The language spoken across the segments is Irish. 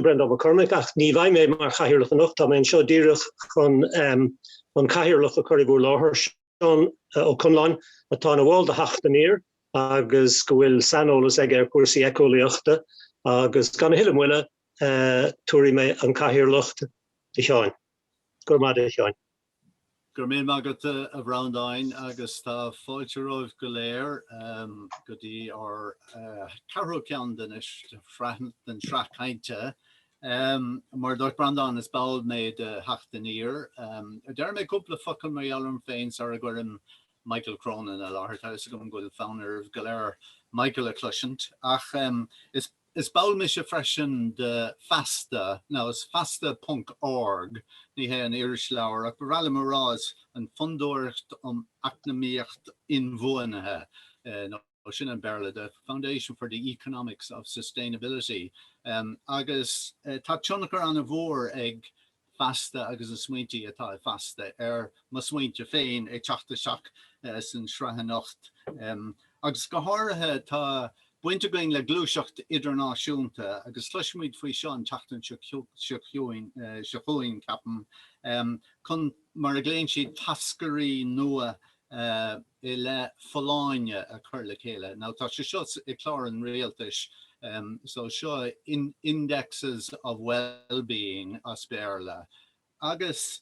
Breandán Mac Cormaic, ach ní bheidh mé mar chathaoirleach anocht, tá mé anseo díreach chun an cathaoirleach a chur i bhur láthair, Seán Ó Conláin, atá ina bhall de Theacht Aniar agus go bhfuil saineolas aige ar chúrsaí eiceolaíochta, agus gan a thuilleadh moille, tabharfaidh mé an cathaoirleacht do Sheáin. Go raibh maith agat, a Sheáin. Go raibh míle maith agat a Bhreandáin agus tá fáilte romhaibh go léir go dtí ár ceathrú ceann den sraith cainte. Mar a dúirt Breandán is ball mé de Theacht Aniar. Déarfaidh mé cúpla focal mar gheall orm féin sara gcuirim Michael Cronin i láthair. Tá a fhios agam go bhfuil fonn oraibh go léir Michael a chloisint ach is. Is ball mise freisin de Feasta, now is feasta ponc org, ní hé an irisleabhar, ach ba bhreá liom a rá is an Fondúireacht um Eacnamaíocht Inbhuanaithe, nó sin an Béarla, the Foundation for the Economics of Sustainability, agus tá tionchar an-mhór ag Feasta agus na smaointí atá i Feasta ar mo smaointe féin ag teacht isteach san sraith anocht. Agus go háirithe tá baint againn le gluaiseacht idirnáisiúnta agus cloisfimid faoi seo an tseachtain seo chugainn, ceapaim, chun mar a ghlaonn siad tascairí nua eh, i leith folláine a chur le chéile. Now, tá sé seo i clár an rialtais, em, so seo in, indexes of well-being as Béarla. Agus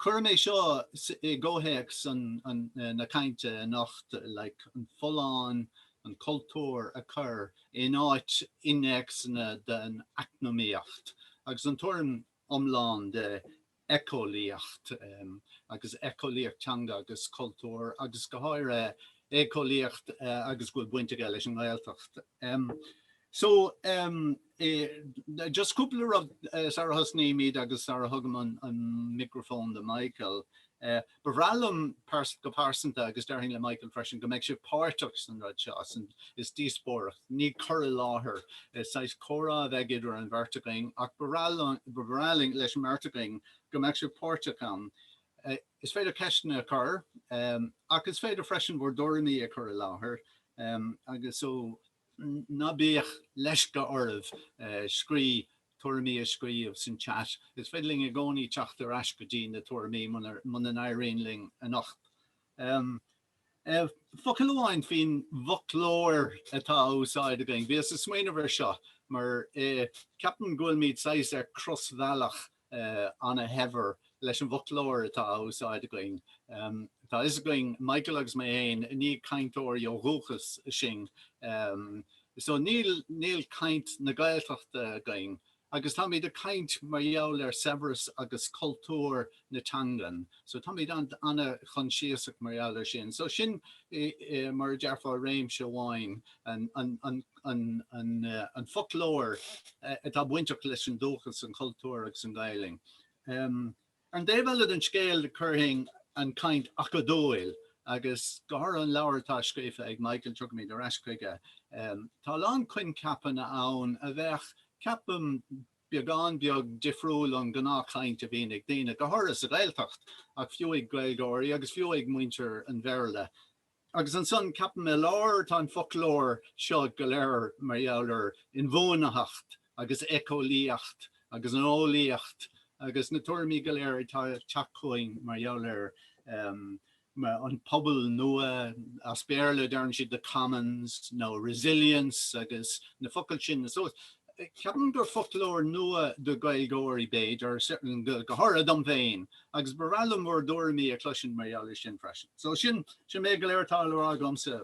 cuirim é seo i gcomhthéacs an, an, eh, na cainte anocht, like, an folláine, an cultúr a chur in áit innéacsanna den eacnamaíocht agus an tuairim iomlán de éiceolaíocht agus éiceolaíocht teanga agus cultúir agus go háirithe éiceolaíocht agus go bhfuil baint aige leis an nGaeltacht. So just cúpla rud sara thosnaímid agus sara thugaim an microphone do Michael. Ba bhreá liom go pearsanta, agus déarfainn le Michael freisin, go mbeadh sibh páirteach san rud seo. Is díospóireacht, ní cur i láthair. Is saghas comhrá a bheidh idir an bheirt againn ach ba bhreá linn, leis an mbeirt againn, go mbeadh sibh páirteach ann. Is féidir ceisteanna a chur ach is féidir freisin bhur dtuairimí a chur i láthair agus. Ná bíodh leisce oraibh scrí tuairimí a scríobh san chat. Is féidir linn i gcónaí teacht ar ais go dtí na tuairimí muna n-éiríonn linn anocht. Focal amháin faoin bhfoclóir atá á úsáid againn. Bhíos ag smaoineamh ar seo mar ceapaim go bhfuilimid saghas ar crosbhealach ana-shaibhir leis an bhfoclóir atá á úsáid againn. Tá a fhios againn, Michael agus mé fhéin, ní cainteoirí ó dhúchas sinn. So níl níl caint na Gaeltachta againn. Agus táimid ag caint mar gheall ar saibhreas agus cultúr na teangan. So táimid an-choinsiasach mar gheall ar sin. So sin, mar a dearfá, réimse amháin, an an foclóir atá bainteach leis an dúchas, an cultúr agus an Ghaelainn. Ar an dtaobh eile den scéal chuirfinn an chaint acadúil agus go háirithe an leabhar atá scríofa ag Michael, tiocfaimid ar ais chuige, tá a lán coincheapanna ann a bheadh, ceapaim, beagán beag difriúil ón ngnáthchaint a bhíonn ag daoine, go háirithe sa Ghaeltacht, ach fiú ag Gaeilgeoirí agus fiú ag muintir an Bhéarla. Agus ansan ceapaim i lár tá an foclóir seo go léir mar gheall ar inbhuanaitheacht agus éiceolaíocht agus an eolaíocht agus na tuairimí go léir atá ag teacht chugainn mar gheall ar an pobal nua, as Béarla deireann siad the commons nó resilience agus na focail sin. So ceapaim gur foclóir nua do Gaeilgeoirí b'fhéidir, for certain go háirithe dom féin, agus ba bhreá liom bhur dtuairimí a chloisint mar gheall ar sin freisin. So sin sin é go léir atá le rá agamsa.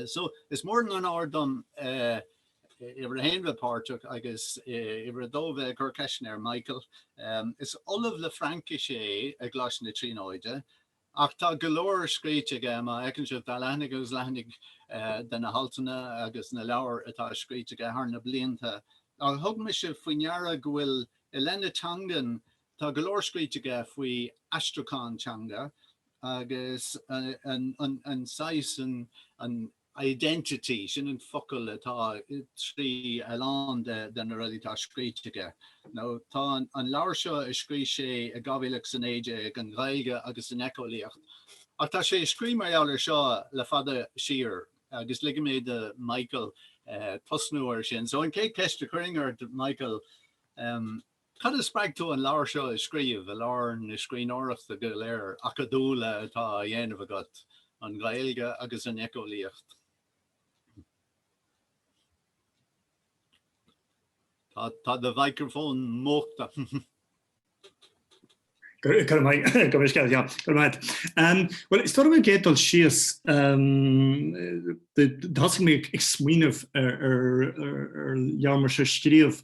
So is mór an onóir dom uimhir a haon bheith páirteach agus uimhir a dó bheith ag cur ceisteanna ar Michael. Is ollamh le Fraincis é i gColáiste na Tríonóide ach tá go leor scríte aige, má fheiceann sibh tá leathanaigh agus leathanaigh de na haltanna agus na leabhair atá scríte aige thar na blianta, ach thug mise faoi ndeara go bhfuil i leith na teangan Tá go leor scríte aige faoi aistriúchán teanga agus an saghas, an identity, sin an focal atá trí a lán de na rudaí atá scríte aige. Now tá an leabhar seo a scrígh sé i 2019, An Ghaeilge agus an Éiceolaíocht, ach tá sé ag scríobh mar gheall ar seo le fada siar agus ligfidh mé do Mhichael tosnú ar sin. So an chéad cheist a chuirfinn ort Michael, Cad a spreag tú an leabhar seo a scríobh, i lár na scríbhneoireachta go léir acadúla atá á dhéanamh agat, an Ghaeilge agus an éiceolaíocht? Tá do mhicreafón múchta. Bhuel is dóigh sa gcéad dul síos thosaigh mé ag smaoineamh ar leabhar mar seo a scríobh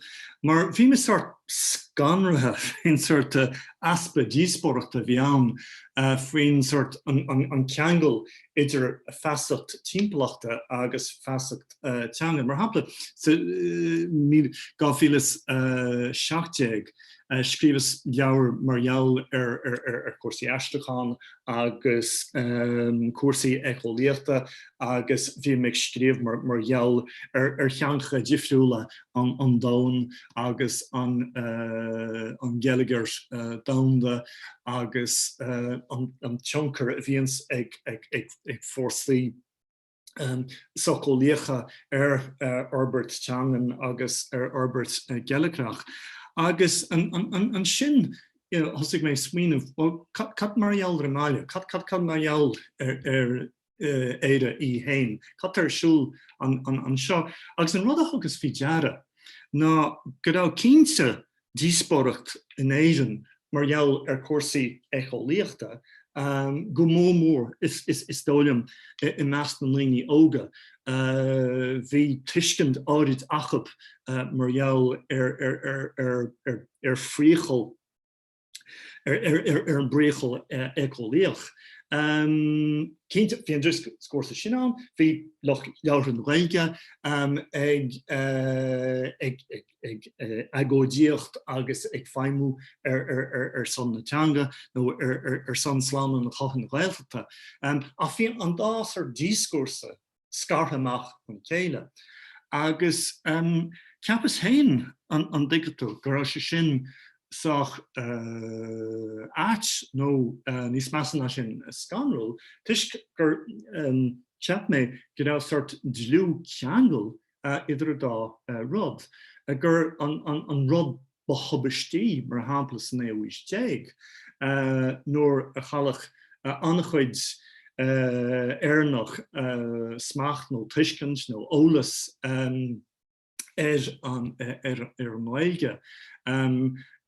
mar bhí mé sórt scanraithe faoin sórt easpa díospóireachta a bhí ann faoin sórt an ceangal idir feasacht timpeallachta agus feasacht teanga. Mar shampla, sa 2017, Scríobhas leabhar mar gheall ar chúrsaí aistriúcháin agus cúrsaí éiceolaíochta agus bhí mé ag scríobh mar gheall ar theangacha difriúla an domhain agus an geilleagar domhanda agus an tionchar a bhíonns ag fórsaí socheolaíocha ar fhorbairt teangan agus ar fhorbairt geilleagrach. Agus ansin thosaigh mé ag smaoineamh, bhuel cad mar gheall ar an mbaile? Cad mar gheall ar Éire í fhéin? Cad tá ar siúl anseo? Agus an rud a thugas faoi deara ná go raibh cinnte díospóireacht in Éirinn mar gheall ar chúrsaí éiceolaíochta, go mór mór, is dóigh liom, i measc na ndaoine óga. Bhí tuiscint áirid acu mar gheall ar phriacal, ar an bpriacal éiceolaíoch. Cinnte, bhí an dioscúrsa sin ann, bhí lucht labhartha na Gaeilge ag ag agóidíocht agus ag feidhmiú ar son na teanga nó ar son slánú na Comhairle Gaeltachta. Ach bhí an dá sort dioscúrsa scartha amach óna chéile. Agus cheapas féin an dtuigeann tú go raibh sé sin sách ait nó níos measa ná sin scanrúil toisc gur cheap mé go raibh sort dlúthcheangal idir an dá rud, gur an rud ba thubaistí, mar shampla sa naoú haois déag nuair a chailleadh an-chuid Éireannach, smacht nó tuiscint nó eolas ar an nGaeilge,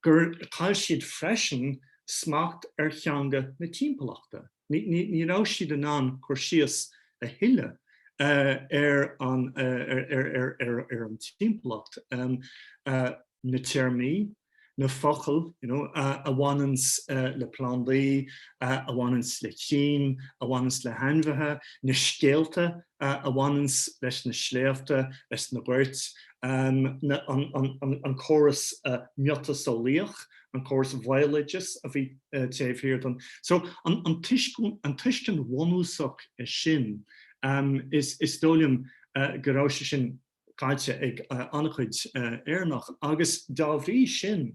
gur chaill siad freisin smacht ar theanga na timpeallachta. Ní raibh siad in ann cur síos a thuilleadh ar an timpeallacht, na téarmaí, na focail, you know, a bhaineanns le plandaí, a bhaineanns le crainn, a bhaineanns le hainmhithe, na scéalta a bhaineanns leis na sléibhte, leis na goirt, an córas miotaseolaíoch an córas bhéaloideas a bhí taobh thiar den. So an tuiscint bhunúsach sin, is dóigh liom go raibh sé sin caillte ag an-chuid Éireannach agus dá bhrí sin,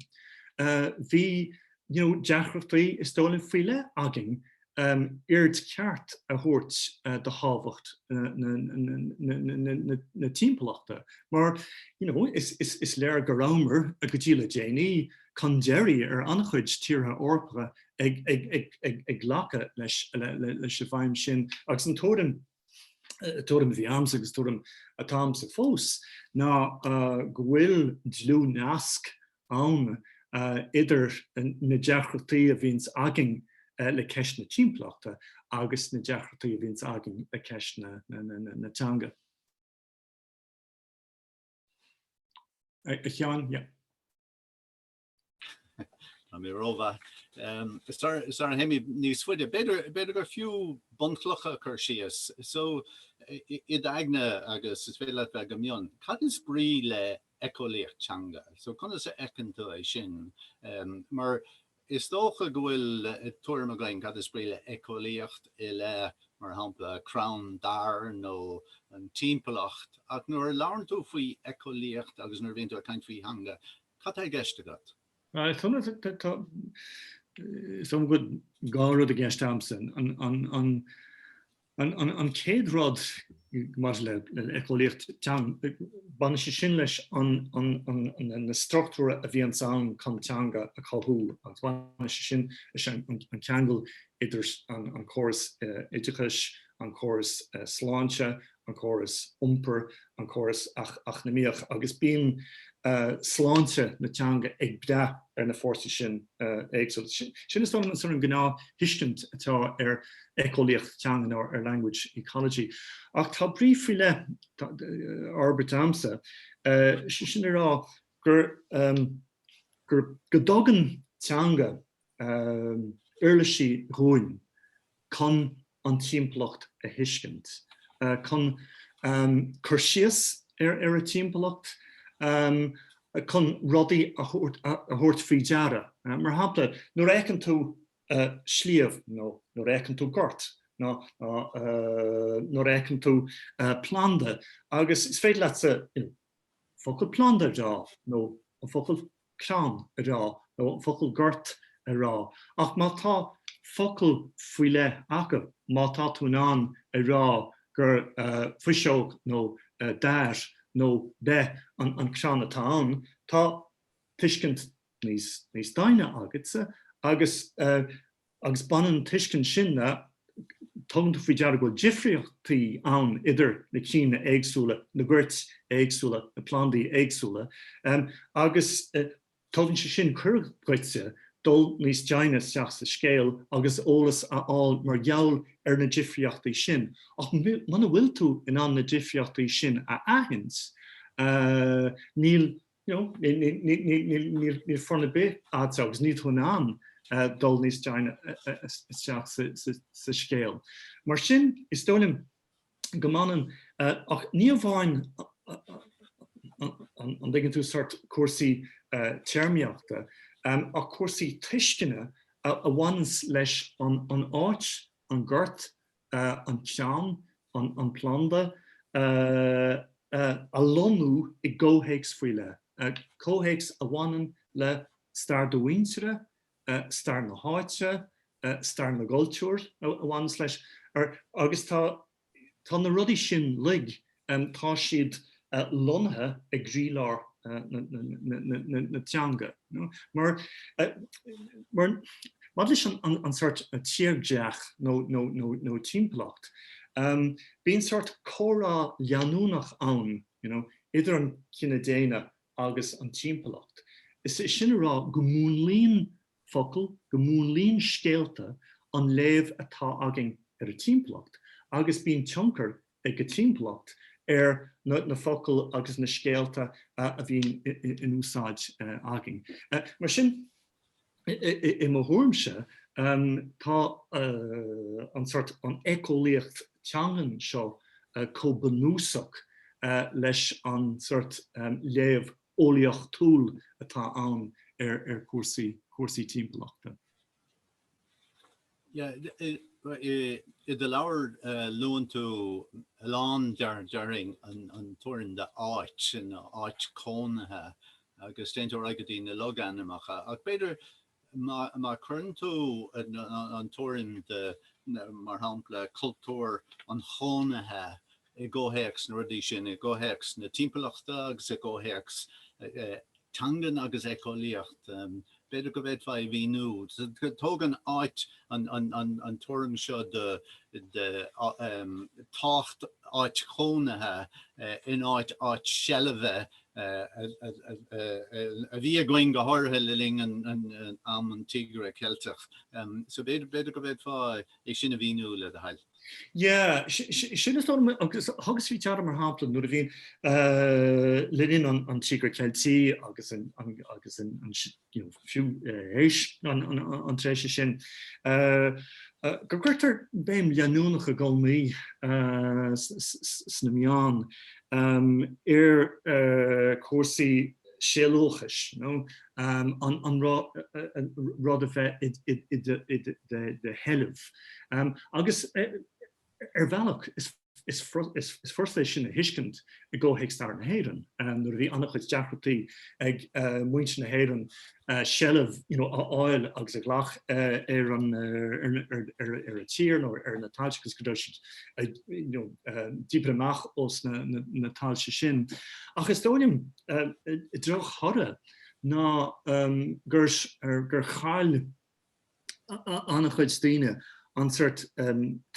bhí deacrachtaí, is dóigh liom, faoi leith againn aird cheart a thabhairt do thábhacht na timpeallachta mar is léir go rabhamar, go dtí le déanaí, chun deiridh ar an-chuid tíortha Eorpacha ag glacadh leis an bhfeidhm sin agus an tuairim tuairim a bhí a'msa agus tuairim atá a'msa fós ná go bhfuil dlúthnasc ann idir na deacrachtaí a bhíonns againn le ceist na timpeallachta agus na deacrachtaí a bhíonns againn le ceist na teanga. A Sheáin, yeah. Tá mé rómhaith. Sular théimid níos faide, b'fhéidir gur fiú bunchloch a chur síos. So, i d'aigne agus is féidir leat bheith go mion, cad is brí le éiceolaíocht teanga? So, conas a fheiceann tú é sin? Mar is dócha go bhfuil tuairim againn cad is brí le éiceolaíocht i leith, mar shampla, crann dair nó an timpeallacht. Ach nuair a labhrann tú faoi éiceolaíocht agus nuair a bhíonn tú ag caint faoi theanga, Cad tá i gceist agat? Is dóigh liom go bhfuil dhá rud i gceist agamsa. An chéad rud maidir le éiceolaíocht teanga, baineann sé sin leis na struchtúir a bhíonns ann chun teanga a chothú agus baineann sé sin leis an ceangal idir an córas oideachais, an córas sláinte an córas iompair, an córas eacnamaíoch agus bíonn sláinte na teanga ag brath ar na fórsaí sin éagsúla. Sin, is dóigh liom, an sort of gnáth-thuiscint atá ar éiceolaíocht teanga nó ar language ecology. Ach tá brí faoi leith á fhorbairt agamsa, sé sin le rá go dtugann teanga, uirlisí dhúinn chun an timpeallacht a thuiscint, chun cur síos ar an timpeallacht, chun rudaí a thabhairt faoi deara. Mar shampla, nuair a fheiceann tú sliabh nó nuair a fheiceann tú gort nó nuair a fheiceann tú planda agus is féidir leatsa focal planda a rá nó an focal crann a rá nó an focal gort a rá ach má tá focal faoi leith acu, má tá tú in ann a rá gur fuinseog nó dair nó beith an crann atá ann, tá tuiscint níos doimhne agatsa agus agus baineann an tuiscint sin le, tugann tú faoi deara go bhfuil difríochtaí ann idir na cinn éagsúla, na goirt éagsúla, na plandaí éagsúla, agus tugann sé sin cuireadh duitse dul níos doimhne isteach sa scéal agus eolas a fháil mar gheall ar na difríochtaí sin. Ach muna bhfuil tú in ann na difríochtaí sin a aithint, níl you know níl fonn ar bith a'd agus níl tú in ann dul níos doimhne isteach sa scéal. Mar sin is dóigh liom go mbaineann ach ní amháin an dtuigeann tú sórt cúrsaí téarmaíochta ach cúrsaí tuisceana a bhaineanns leis an áit, an gort, an ceann, an planda, a lonnú i gcomhthéacs faoi leith, comhthéacs a bhaineann le stair do mhuintire, stair na háite, stair na gcultúr a bhaineas leis agus tá na rudaí sin uilig. Tá siad lonnaithe i gcroílár na teanga. Maidir leis an sort tírdhreach nó timpeallacht, bíonn sort comhrá leanúnach ann idir an cine daonna agus an timpeallacht, is é sin a rá go múnlaíonn focail go múnlaíonn scéalta an léamh atá againn ar an timpeallacht agus bíonn tionchar ag an timpeallacht ar na focail agus na scéalta a bhíonn in úsáid againn. Mar sin, i mo thuairimse, tá an sort an éiceolaíocht teangan seo chomh bunúsach leis an sort léamh eolaíochtúil atá ann ar chúrsaí cúrsaí timpeallachta. Yeah, i do leabhar luann tú a lán dáiríre an tuairim de áit ina áit cónaithe agus d'iontar agat i dtaobh na logainmneacha ach b'fhéidir Má chuireann tú an tuairim de, mar shampla, cultúr an chónaithe i gcomhthéacs na rudaí sin, i gcomhthéacs na timpeallachta agus i gcomhthéacs teangan agus éiceolaíocht, b'fhéidir go bhféadfá a mhíniú. Tugann áit an tuairim seo de de tábhacht áit chónaithe in áit áit seilbhe a bhí againn go háirithe le linn am an Tíogair Ceilteach. So b'fhéidir go bhféadfá é sin a mhíniú le do thoil. Yeah, sin is thugas faoi deara mar shampla nuair a bhíonn le linn an Tíogair Cheiltigh agus an fiú théis an tréimhse sin, go gcuirtear béim leanúnach i gcónaí sna meáin ar chúrsaí sealúchais, an rud a bheith i do sheilbh. Ar bhealach, is furasta é sin a thuiscint i gcomhthéacs stair na hÉireann, nuair a bhí an-chuid deacrachtaí ag muintir na hÉireann seilbh, you know, a fháil agus a ghlacadh ar an tír nó ar na tailte agus go raibh siad díbeartha amach as na tailte sin. Ach is dóigh liom, an drochthoradh, ná gur chaill. an-chuid daoine an seort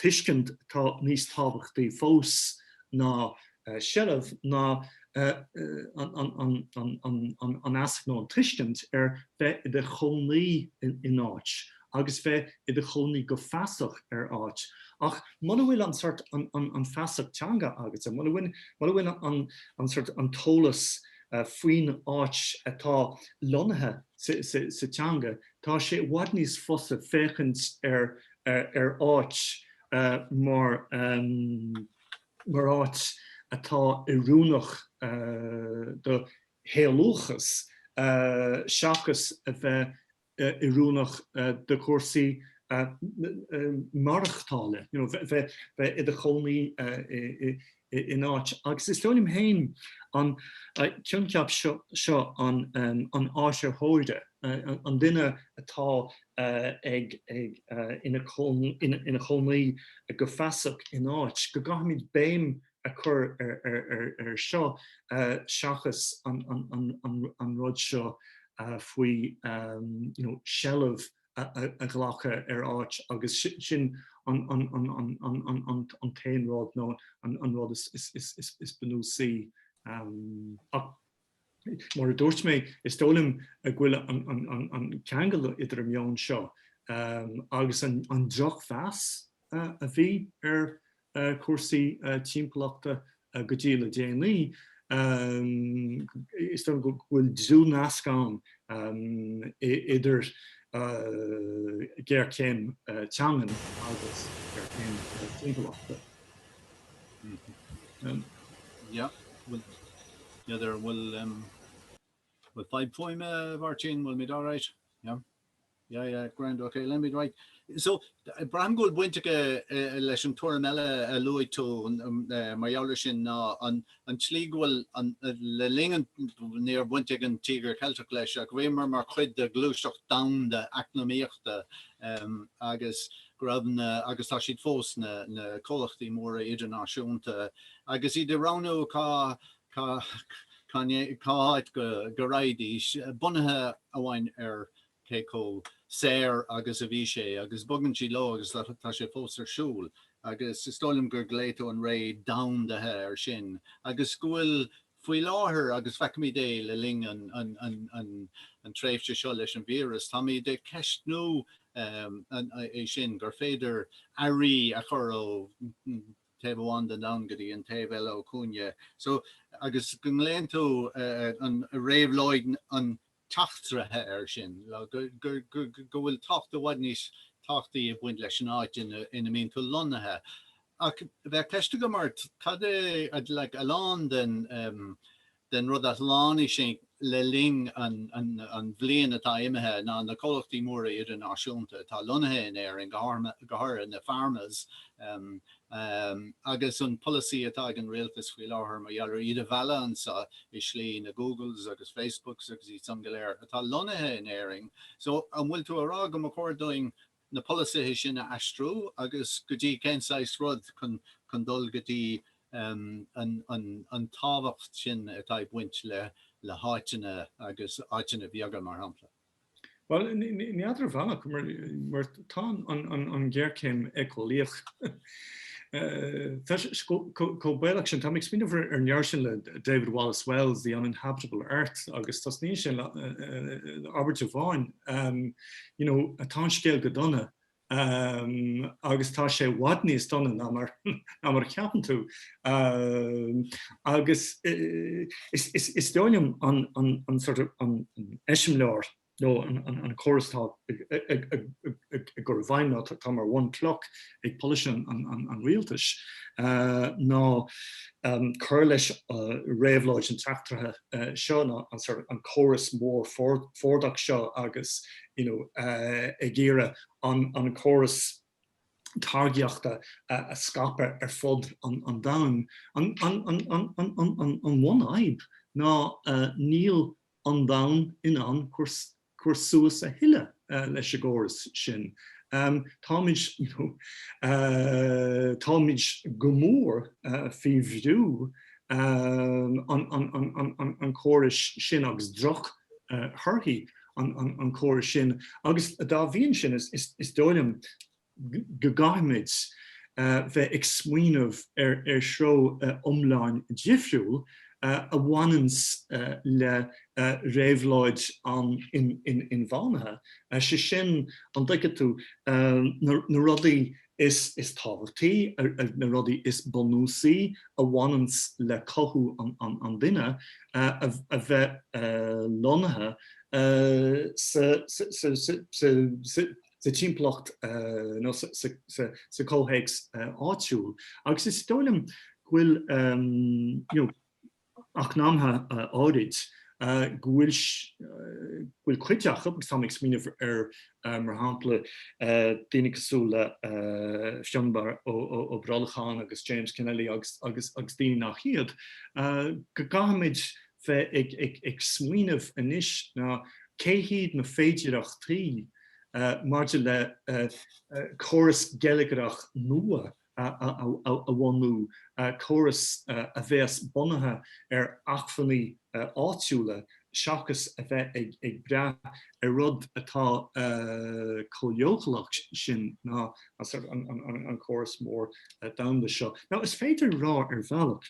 tuiscint atá níos tábhachtaí fós ná seilbh ná an fheasacht nó an tuiscint ar bheith i do chónaí in áit agus bheith i do chónaí go feasach ar áit. Ach muna bhfuil an seort an feasacht teanga agus muna bhfuil an seort an t-eolas faoin áit atá lonnaithe sa teanga, Tá sé i bhfad níos fusa féachaint ar áit mar, mar áit atá oiriúnach do shealúchas seachas a bheith oiriúnach do chúrsaí maireachtála, you know, bheith, bheith i do chónaí in áit. Agus is dóigh liom féin an coincheap seo an áitritheora, an duine atá ag, ina chónaí go feasach in áit, go gcaithfimid béim a chur air seo seachas an rud seo faoi seilbh. a ghlacadh ar áit agus sin an t-aon rud nó an rud is bunúsaí. Ach mar a dúirt mé, is dóigh liom go bhfuil an ceangal idir an meon seo agus an drochmheas a bhí ar ar chúrsaí timpeallachta go dtí le déanaí, is dóigh liom go bhfuil dlúthnasc ann idir géarchéim teangan agus géarchéim timpeallachta. Yeah, well, yeah, there will, um, with five poem, uh, Martin, will meet all right. Yeah. Yeah yeah grand ok let me right so braithim go bhfuil baint aige leis an tuairim eile a luaigh tú mar gheall air sin ná an tslí go bhfuil an le linn an ní raibh baint ag an Tíogar Ceilteach leis ach bhíomar mar chuid de ghluaiseacht domhanda eacnamaíochta agus go raibh na agus tá siad fós na comhlachtaí móra idirnáisiúnta agus iad ag roghnú cá cá háit go raghaidís, bunaithe amháin ar cé chomh saor agus a bhí sé, agus bogann siad leo agus tá sé fós ar siúl. Agus is dóigh liom gur ghlaoigh tú an ré domhandaithe air sin agus go bhfuil faoi láthair, agus feicimid é le linn an tréimhse seo leis an víreas, táimid ag ceistniú é sin, gur féidir earraí a chur ó. taobh amháin den domhan go dtí an taobh eile ó chúinne so agus go nglaonn tú an réabhlóid an tseachtraithe air sin go bhfuil tábhacht i bhfad níos tábhachtaí ag baint leis an áit ina ina mbíonn tú lonnaithe ach bheadh ceist agam ort cad é like a lán den den rud a shlánaigh sinn le linn an bhliain atá imithe ná na comhlachtaí móra idirnáisiúnta atá lonnaithe in Éirinn, go háirithe na pharmas, agus an polasaí atá ag an rialtas faoi láthair mar gheall ar iad a mhealladh anseo i slí, na Googles agus Facebooks agus iad san go léir atá lonnaithe in Éirinn. So, an bhfuil tú a rá go mba chóir dúinn na polasaithe sin a aistriú agus go dtí cén saghas rud chun dul go dtí an tábhacht sin atá ag baint le háiteanna agus áiteanna bheaga mar shampla. Bhuel, n'fheadar ar bhealach mar tá an ghéarchéim éiceolaíoch chomh baolach sin. Táim ag smaoineamh ar an leabhar sin le David Wallace Wells, The Uninhabitable Earth agus tosnaíonn sé le abairt amháin. you know, tá an scéal go dona agus tá sé i bhfad níos dona ná mar ná mar a cheapann tú. Agus is dóigh liom an sort of an eiseamláir nó an córas atá ag cur i bhfeidhm nó atá mar bhunchloch ag polasaithe an rialtais ná cur leis réabhlóid an tseachtraithe seo, an córas mór Fordach seo agus ag iarraidh an córas táirgíochta a scaipeadh ar fud an domhain. An bhunfhadhb ná níl an domhan in ann cur suas a thuilleadh leis an gcóras sin. Táimid, nó táimid go mór faoi bhrú an chórais sin agus droch thorthaí an chórais sin agus dá bhrí sin is dóigh liom, go gcaithfimid bheith ag smaoineamh ar threo iomlán difriúil a bhaineanns le réabhlóid na hinbhuanaitheachta, sé sin, an dtuigeann tú, na rudaí is tábhachtaí, na rudaí is bunúsaí a bhaineanns le cothú an duine, a bheith lonnaithe sa sa timpeallacht nó sa chomhthéacs áitiúil agus is dóigh liom go bhfuil eacnamaithe áirid go bhfuil cuid acu agus táim ag smaoineamh ar mar shampla daoine cosúil le Fionbar Ó Brolcháin agus James Kennelly agus daoine nach iad go gcaithfimid bheith ag smaoineamh anois ná cé hiad na féidearthachtaí maidir le córas geilleagrach nua a bhunú, córas a bheas bunaithe ar acmhainní áitiúla seachas a bheith ag brath ar rud atá chomh leochaileach sin ná an córas mór domhanda seo. Now is féidir a rá ar bhealach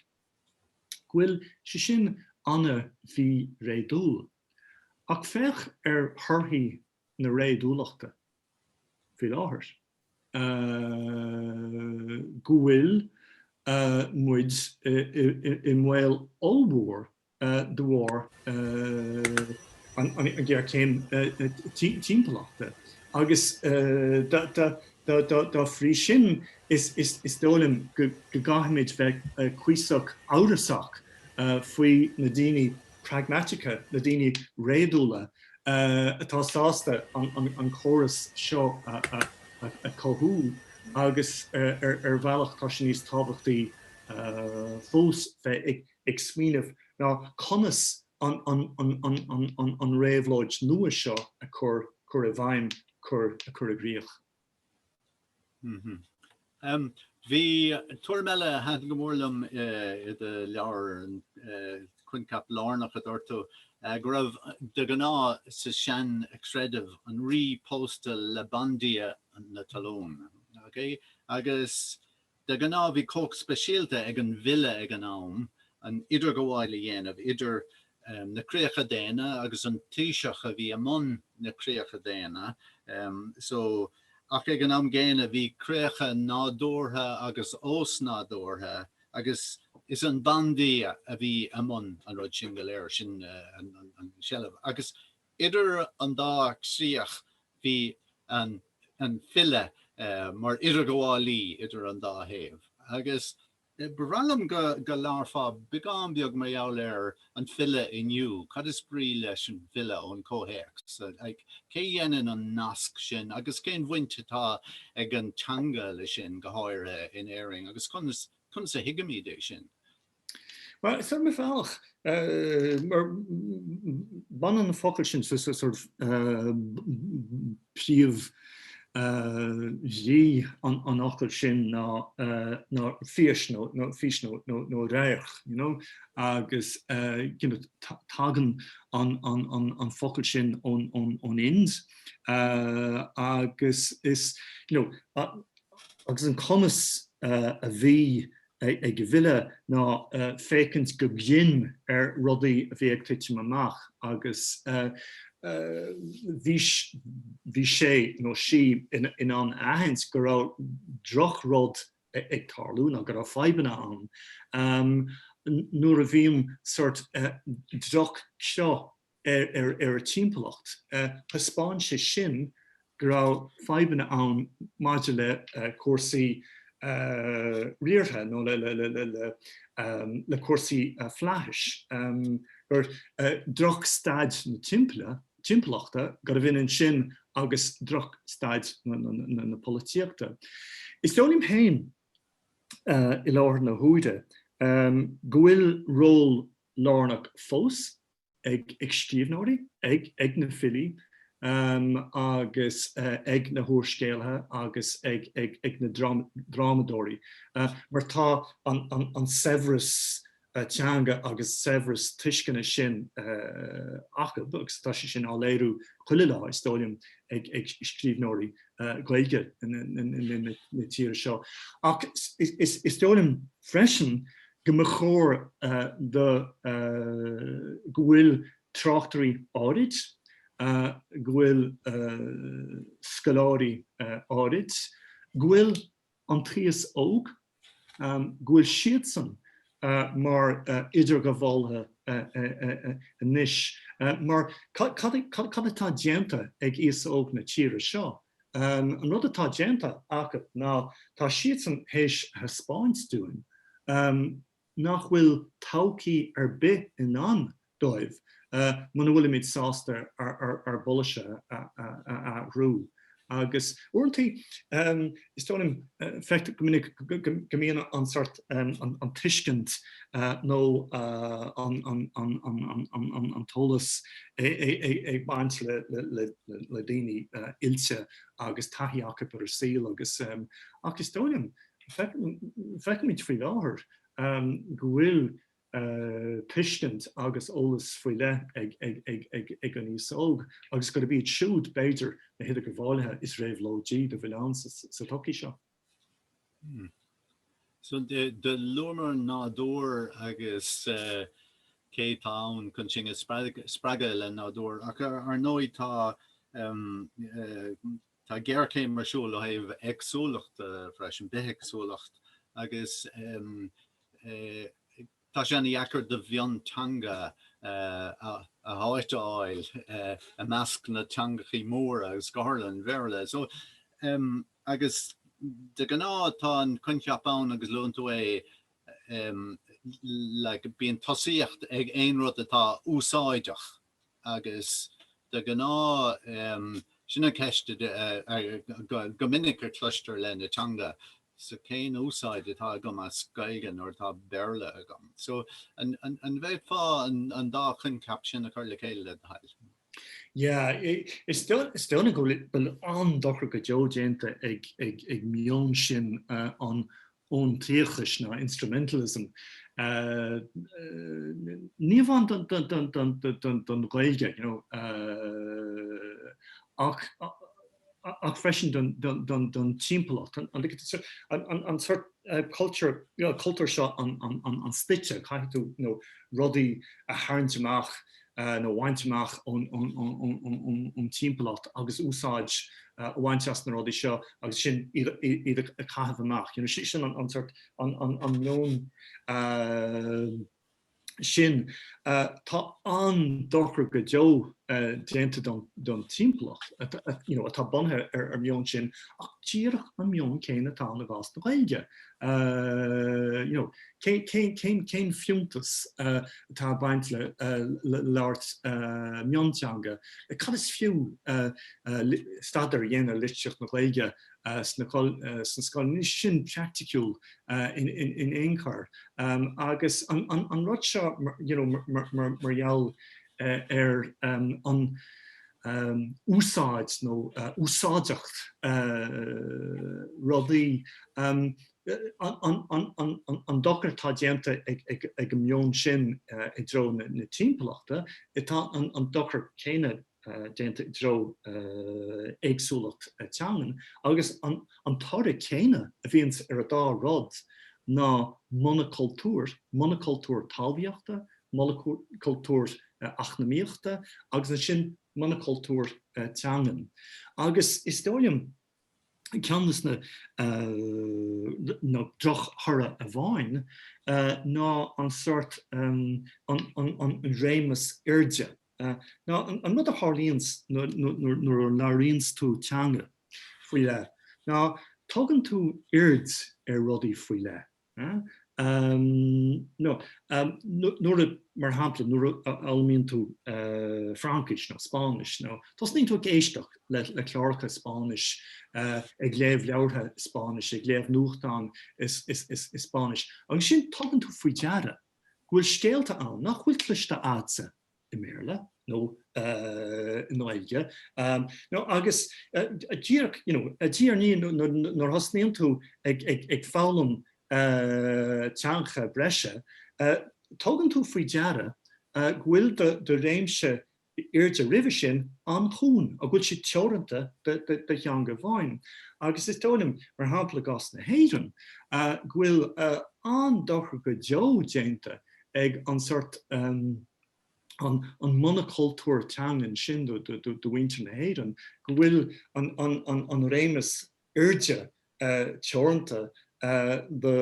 go bhfuil sé sin an-mhíréadúil. Ach féach ar thorthaí na réadúlachta faoi láthair. go bhfuil muid i mbaol ollmhór de bharr an ngéarchéim timpeallachta agus Dá bhrí sin, is dóigh liom go gcaithfimid bheith cuíosach amhrasach faoi na daoine pragmatacha, na daoine réadúla, atá sásta an córas seo a chothú agus ar bhealach tá sé níos tábhachtaí fós bheith ag smaoineamh ná conas an réabhlóid nua seo a chur i bhfeidhm. cur, a chur i gcríoch. Bhí tuairim eile a thaitin go mór liom i do leabhar, an coincheap lárnach a dúirt tú, go raibh de ghnáth sa seanchreideamh an rí pósta le bandia na talún, okay, agus. De ghnáth bhí comhacht speisialta ag an bhfile ag an am an idirghabháil a dhéanamh idir na críocha daonna agus an taoiseach a bhí i mbun na críocha daonna so ach ag an am gcéanna bhí críocha nádúrtha agus ósnádúrtha agus is an bandia a bhí i mbun an rud sin go léir, sin an sealbh agus. Idir an dá chríoch bhí an file mar idirghabhálaí idir an dá thaobh agus ba bhreá liom go labharfá beagán beag mar gheall ar an bhfile inniu, cad is brí leis an bhfile ón chomhthéacs seo, cé dhéanann an nasc sin agus cén bhaint atá ag an teanga leis sin, go háirithe in Éirinn agus conas a thuigimid é sin? Bhuel, is iomaí bealach. Mar baineann na focail sin, so sort of príomhbhrí an fhocail sin ná fís nó fios nó radharc, you know, agus tagann an focal sin ón Ind agus is, you know, agus an cumas a bhí ag an bhfile ná féachaint go grinn ar rudaí a bhí ag titim amach agus bhí sé nó sí in ann a aithint go raibh drochrud ag tarlú ná go raibh fadhbanna ann. Nuair a bhíonn sórt droch-cheo ar an timpeallacht, thaispeáin sé sin go raibh fadhbanna ann maidir le cúrsaí riartha nó le cúrsaí flaithis, drochstaid na timpeallachta, gurbh ionann sin agus drochstaid na polaitíochta. Is dóigh liom féin i láthair na huaire go bhfuil ról lárnach fós ag. ag scríbhneoirí, ag na filí agus ag na húrscéalaithe agus ag na drámadóirí mar tá an saibhreas teanga agus saibhreas tuisceana sin acub agus tá sé sin á léiriú chuile lá, is dóigh liom, ag scríbhneoirí Gaeilge na tíre seo. Ach is dóigh liom freisin go mba chóir do go bhfuil tráchtairí áirid, go bhfuil scoláirí áirid, go bhfuil an t-aos óg, go bhfuil siadsan mar idirghabhálaithe anois mar cad atá déanta ag aos óg na tíre seo An rud atá déanta acu ná tá siadsan théis a thaispeáint dúinn nach bhfuil todhchaí ar bith i ndán dóibh muna bhfuilimid sásta ár bpolasaithe a athrú. Agus uaireanta is dóigh liom feictear go minic go mbíonn an sort. an tuiscint nó an t-eolas ag baint le daoine oilte agus taithí acu ar an saol agus is dóigh liom, feicimid faoi láthair go bhfuil tuiscint agus eolas faoi leith ag an aos óg agus gurb iad siúd b'fhéidir na hidirghabhálaithe is réabhlóidí dá bhfuil ann sa tsochaí seo. So do luamar nádúr agus cé atá ann chun sinn a spreagadh le nádúr ach ar ndóigh tá tá géarchéim ar siúl ó thaobh éagsúlachta freisin, bithéagsúlacht agus Tá sé an-dheacair do mhionteanga a háit a fháil i measc na dteangachaí móra agus go háirithe an Bhéarla. So agus de gnáth tá an coincheap ann agus luann tú é like bíonn tosaíocht ag aon rud atá úsáideach. agus de ghnáth sin an cheist go minic a chloistear le na teanga, so cén úsáid atá agam as Gaeilge nuair atá Béarla agam? So an bhféadfá an dá choincheap sin a chur le chéile le do thoil? Yeah, is dóigh go bhfuil an dochar go deo déanta ag meon sin an fhóntachais nó instrumentalism ní amháin don Ghaeilge you know ach freisin don timpeallacht, an sort cultúr seo an stoite, caithfidh tú you know rudaí a tharraingt amach a bhaint amach ón timpeallacht agus úsáid a bhaint as na rudaí seo agus ansin iad a chaitheamh amach. You know, sin an sort, an meon sin. Tá an dochar go deo déanta don timpeallacht atá bunaithe ar an meon sin ach díreach an meon céanna atá ann i gcás na Gaeilge. Cén fiúntas atá ag baint le labhairt mionteanga? Cad is fiú staidéar a dhéanamh ar litríocht na Gaeilge sa scoil sna scoileanna? Níl sin praiticiúil in aon chor. Agus an rud seo mar gheall ar an úsáid nó úsáideacht rudaí, an dochar atá déanta ag an meon sin i dtreo na timpeallachta, tá an dochar céanna déanta i dtreo éagsúlacht teangan agus an toradh céanna a bhíonns ar an dá rud ná monacultúr, monacultúr talmhaíochta monacultúr eacnamaíochta agus ansin monacultúr teangan agus is dóigh liom ceann dos na drochthoradh a bhíonn ná an sort an réimse airde ná an rud a tharlaíonns nuair a labhraíonns tú teanga faoi leith ná tugann tú aird ar rudaí faoi leith. Nuair a, mar shampla, nuair a fhoghlaimíonn tú Fraincis nó Spáinnis, tosnaíonn tú ag éisteacht le cláracha Spáinnise, ag léamh leabhartha Spáinnise, ag léamh nuachtán i Spáinnis, agus ansin tugann tú faoi deara go bhfuil scéalta ann nach bhfuil cloiste a'tsa i mBéarla nó i nGaeilge nó agus díreach you know i ndáiríre nuair a thosnaíonn tú ag ag ag foghlaim teangacha breise tugann tú faoi deara go bhfuil do do réimse airde roimhe sin an-chúng go bhfuil sé teoranta do do theanga amháin agus is dóigh liom mar shampla i gcás na hÉireann go bhfuil an-dochar go deo déanta ag an sort, an an monacultúr teangan sin do mhuintir na hÉireann go bhfuil an réimse airde teoranta do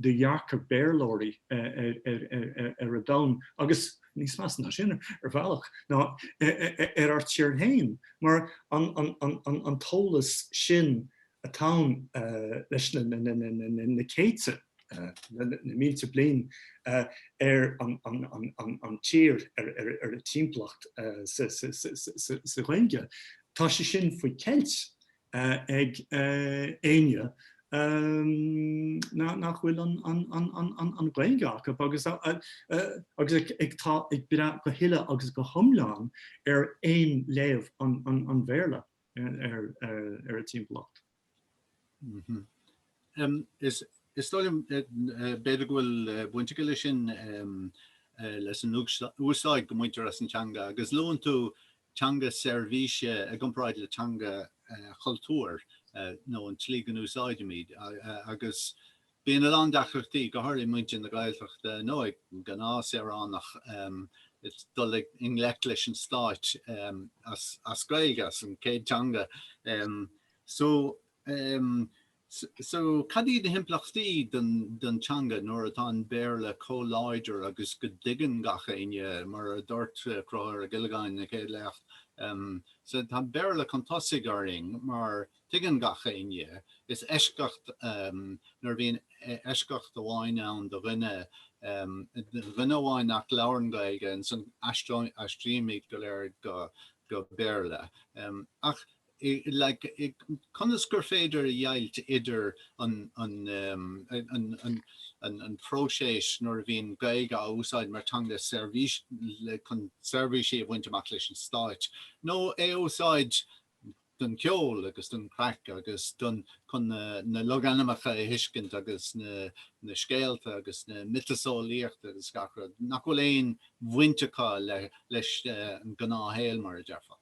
dhearcadh Béarlóirí ar a domhan agus, níos measa ná sin ar bhealach, ná ar ár tír féin mar an t-eolas sin atá ann leis na céadta, na mílte bliain ar an tír, ar a timpeallacht, sa Ghaeilge, tá sé sin faoi cheilt ag éinne nach bhfuil an Ghaeilge acu agus atá ag brath go huile agus go hiomlán ar aon léamh an Bhéarla. ar a timpeallacht. Is dóigh liom b'fhéidir go bhfuil baint aige leis sin leis an úsáid go mbaintear as an teanga agus luann tú teanga seirbhíse i gcomparáid le teanga chultúir nó an tslí go n-úsáidimid agus Bíonn a lán deacrachtaí, go háirithe muintir na Gaeltachta nó ag an gnáthshaoránach dul i ngleic leis an stát as Gaeilge, as an céad teanga. So so cad iad na himpleachtaí don teanga nuair atá an Béarla comh láidir agus go dtuigeann gach éinne, mar a duirt Conchúr Ó Giollagáin ina chéad léacht, so tá an Béarla chun tosaigh orainn mar. Tuigeann gach éinne, is eisceacht nuair a bhíonn eisceacht amháin ann do dhuine, duine amháin nach labhrann Gaeilge, ansan aistrímid go léir go Béarla. Ach conas gur féidir a dheighilt idir an próiseas nuair a bhíonn Gaeilge á úsáid mar teanga seirbhíse chun seirbhísí a bhaint amach leis an stát nó é a úsáid don cheol agus don chraic agus don chun na logainmneacha a thuiscint agus na scéalta agus na miotaseolaíocht agus gach rud, nach bhfuil aon bhaint acu leis an ngnáthshaol, mar a déarfá.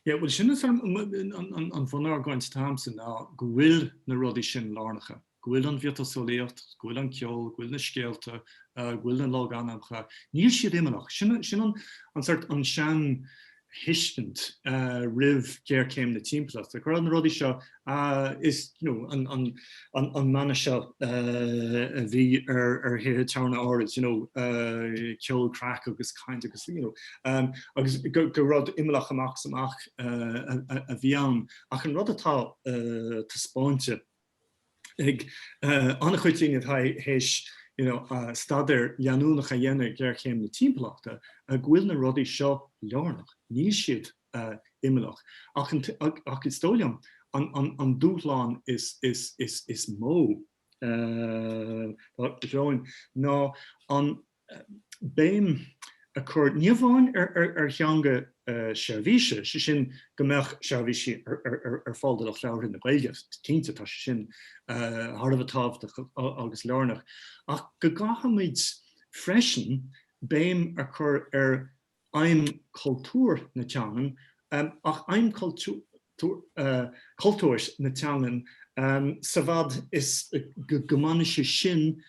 Yeah, bhuel sin is an bhunargóint atá agamsa ná go bhfuil na rudaí sin lárnacha. go bhfuil an mhiotaseolaíocht, go bhfuil an ceol, go bhfuil na scéalta, go bhfuil na logainmneacha, níl siad imeallach. Sin an sórt, an seantuiscint roimh ghéarchéim na timpeallachta, go raibh na rudaí seo, is you know an mana seo a bhí ar thithe tabhairne áirid, you know ceol, craic agus caint agus you know agus gur rud imeallach amach is amach a bhí ann. Ach an rud atá taispeáinte, ag an-chuid daoine atá théis staidéar leanúnach a dhéanamh ar ghéarchéim na timpeallachta go bhfuil na rudaí seo lárnach. Níl siad imeallach. Ach is dóigh liom an dúshlán is mó againn ná an. béim a chur ní amháin ar theanga seirbhíse, sé sin go mbeadh seirbhísí ar fáil do lucht labhartha na Gaeilge, cinnte tá sé sin thar a bheith tábhachtach agus lárnach, ach go gcaithfimid freisin béim a chur ar aidhm chultúir na teangan ach aidhm chultúir na teangan sa bhfad is go mbaineann sé sin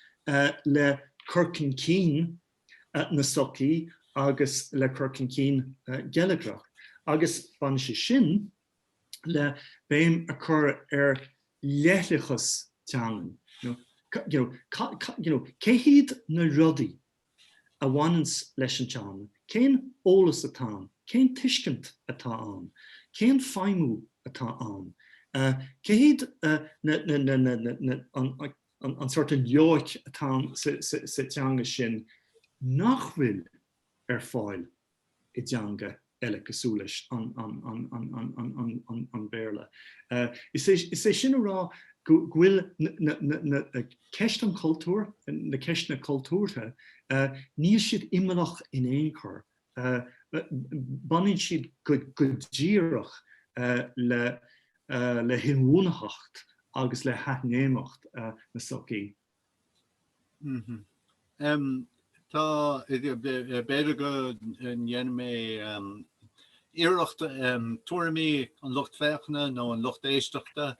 le cur chun cinn na sochaí agus le cur chun cinn geilleagrach agus baineann sé sin le béim a chur ar leithleachas teangan. Cé hiad na rudaí a bhaineanns leis an teanga? Cén eolas atá ann? Cén tuiscint atá ann? Cén feidhmiú atá ann? Céard é an sórt dearcadh atá sa teanga sin nach bhfuil ar fáil i dteanga eile cosúil leis an mBéarla. Is é sin a rá go bhfuil ceist an chultúir, na ceisteanna cultúrtha, níl siad imeallach in aon chor. Baineann siad go díreach le hinbhuanaitheacht agus le hathléimneacht na sochaí. Tá. B'fhéidir go ndéanfaidh mé iarracht tuairimí an lucht féachana nó an lucht éisteachta,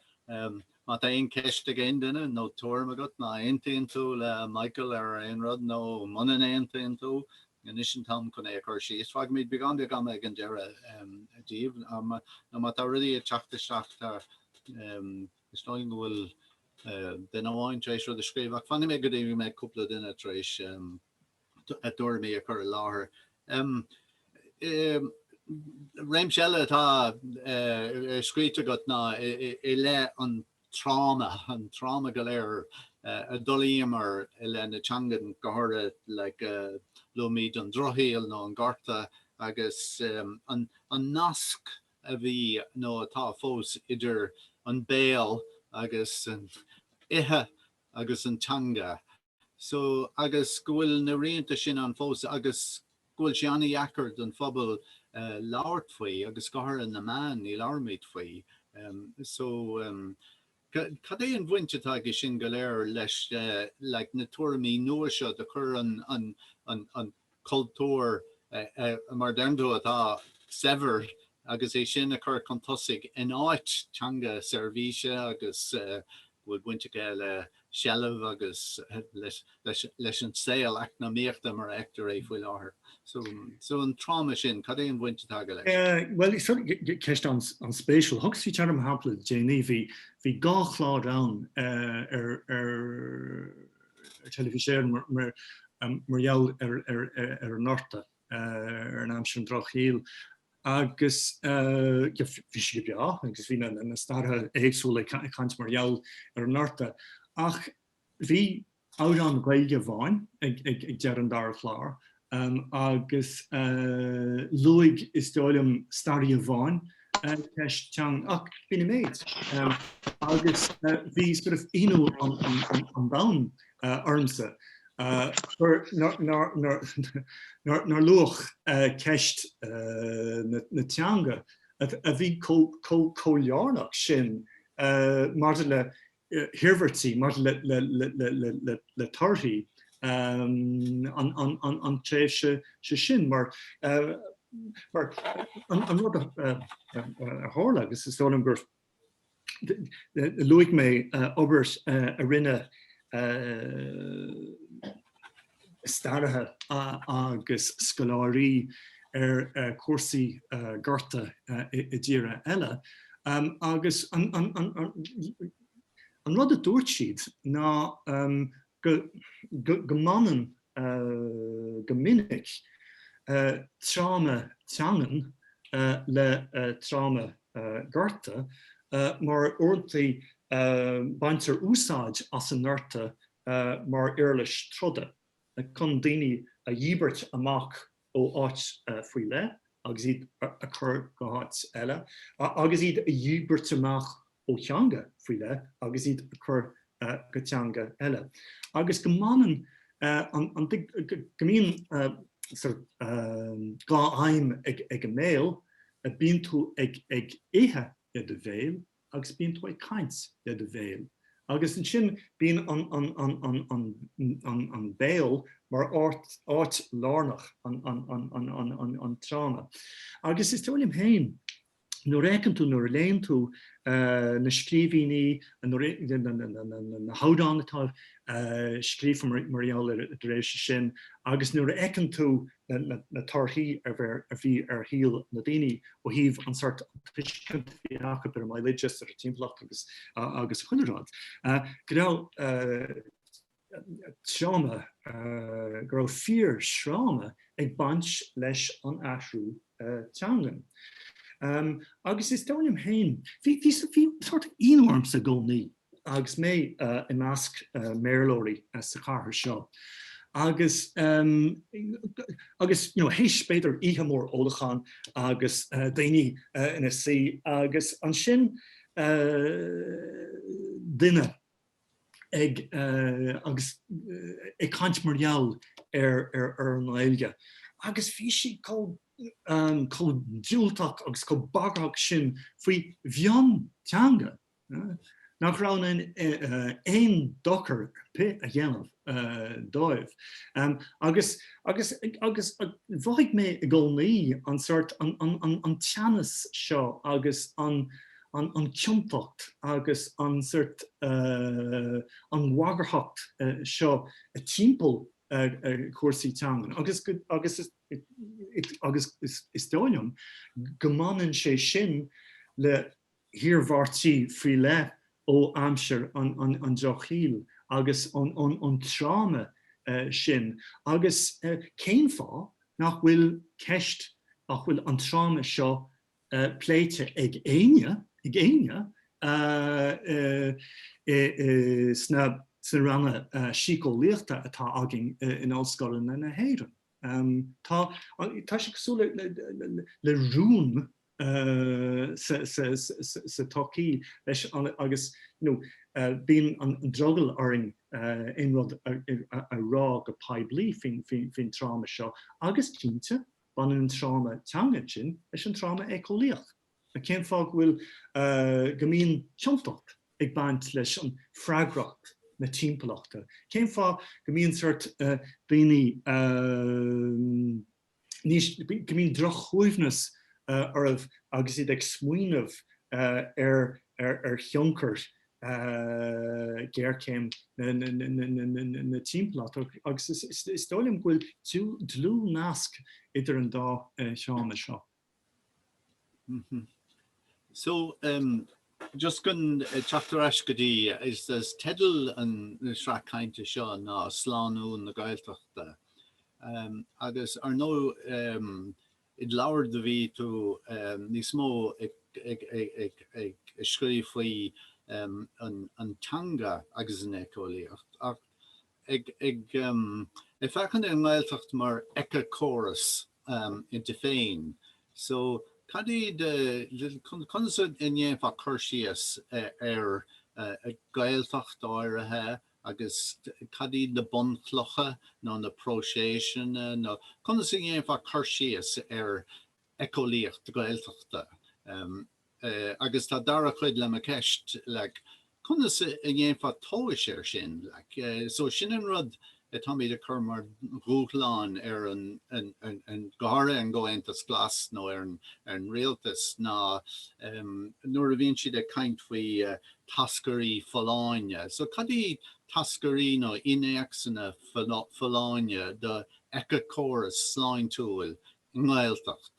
má tá aon cheist ag aon duine nó tuairim agat, má aontaíonn tú le Michael ar aon rud nó muna n-aontaíonn tú, anois an t-am chun é a chur síos. Fágfaimid beagán beag ama ag an deireadh díobh nó má tá rudaí ag teacht isteach. Is dóigh liom go bhfuil duine amháin tar éis rud a scríobh ach fanfaidh mé go dtí go mbeidh cúpla duine tar éis a dtuairimí a chur i láthair. Réimse eile atá scríte agat ná i leith an tráma, an tráma go léir a d'fhulaingíomar i leith na teangan, go háirithe luaimid an drochshaol nó an gorta agus an nasc a bhí nó atá fós idir an béal agus an ithe agus an teanga so agus go bhfuil na rianta sin ann fós agus go bhfuil sé an-deacair don phobal labhairt faoi agus go háirithe na meáin, ní labhraímid faoi so. Cad é an bhaint atá aige sin go léir leis na tuairimí nua seo de chur an chultúir mar a deireann tú atá saibhir agus é sin a chur chun tosaigh in áit teanga seirbhíse agus go bhfuil baint aige le seilbh agus leis leis an saol eacnamaíochta mar a fheictear é faoi láthair. So an tráma sin, cad é an bhaint atá aige leis? Bhuel, ceist an-spéisiúil. Thugas faoi deara mar shampla le déanaí. Bhí dhá chlár ann ar Teilifís Éireann mar gheall ar an nGorta, ar an aimsir, an drochshaol agus bhí siad go breá agus bhí na staraithe éagsúla ag caint mar gheall ar an nGorta ach, Bhí amhrán Gaeilge amháin ag deireadh an dara chlár agus luaigh, is dóigh liom, staraí amháin ceist teanga ach b'in an méid. Agus bhí sort of ionadh an domhain ormsa nár luadh ceist na teanga a bhí chomh lárnach sin maidir le hiarmhairtí maidir le torthaí an tréimhse sin mar mar an rud a tharla agus is dóigh liom gur luaigh mé obair a rinne staraithe agus scoláirí ar chúrsaí gorta i dtíortha eile agus an rud a dúirt siad ná go mbaineann go minic tráma teangan le tráma gorta mar uaireantaí baintear úsáid as an ngorta mar uirlis troda chun daoine a dhíbirt amach ó áit faoi leith agus iad a chur go háit eile, agus iad a dhíbirt amach ó theanga faoi leith agus iad a chur go teanga eile. Agus go mbaineann an, go mbíonn dhá aidhm ag an mbéal, bíonn tú ag ithe i do bhéal agus bíonn tú ag caint le do bhéal agus ansin bíonn an béal mar áit lárnach an tráma. Agus is dóigh liom féin nuair a fheiceann tú, nuair a léann tú na scríbhínní, na hamhráin atá scríofa mar gheall ar an dtréimhse sin agus nuair a fheiceann tú na torthaí a bhí ar shaol na daoine ó thaobh an sort tuiscint a bhí acu ar an mbaile dúchais, ar an timpeallacht agus chuile rud. Go raibh tráma, go raibh fíorthráma ag baint leis an athrú. teangan. Agus is dóigh liom féin, bhí sórt ionadh ormsa i gcónaí agus mé i measc mBéarlóirí sa chathair seo agus, agus you know théis b'fhéidir oíche mór ólacháin agus daoine ina suí agus ansin duine, ag agus ag caint mar gheall ar an nGaeilge agus bhí siad chomh diúltach agus chomh bagarthach sin faoi mhionteanga nach raibh in ann aon dochar ar bith a dhéanamh dóibh agus agus mhothaigh mé i gcónaí an sort an teannas seo agus an an chiontacht agus an sort an bhagarthacht seo timpeall cúrsaí teangan agus is dóigh liom go mbaineann sé sin le hiarmhairtí faoi leith ó aimsir an drochshaoil agus an tráma sin agus cén fáth nach bhfuil ceist nach bhfuil an tráma seo pléite ag éinne sna ranna síceolaíochta atá againn in ollscoileanna na hÉireann. Tá sé cosúil le rún sa tsochaí leis agus bíonn an-drogall orainn aon rud a rá go poiblí faoin tráma seo agus cinnte Baineann an tráma teangan sin leis an tráma éiceolaíoch. Cén fáth go bhfuil, go mbíonn ciontacht ag baint leis an freagracht na timpeallachta? Cén fáth go mbíonn sort daoine, go mbíonn drochshuaimhneas orthu agus iad ag smaoineamh ar thionchar géarchéim na timpeallachta agus is dóigh liom go bhfuil dlúthnasc idir an dá cheann seo. So, just chun teacht ar ais go dtí, is teideal na sraith cainte seo ná Slánú na Gaeltachta agus ar ndóigh, id leabhar do bhí tú níos mó ag scríobh faoi an teanga agus an éiceolaíocht ach ag féachaint ar an nGaeltacht mar éiceachóras inti féin so cad iad, conas a ndéanfá cur síos ar Gaeltacht áirithe, Agus cad iad na bunchlocha nó na próiseasanna nó conas a dhéanfá cur síos ar éiceolaíocht Gaeltachta? Agus tá dara cuid le mo ceist, like, conas a dhéanfá tomhas ar sin? Like, so sin an rud atáimid a cur mar dhúshlán ar an, an, go háirithe an gComhaontas Glas nó ar an, ar an rialtas ná nuair a bhíonn siad ag caint faoi táscairí folláine. So cad iad táscairí nó innéacsanna folláine do éiceachóras sláintiúil i nGaeltacht?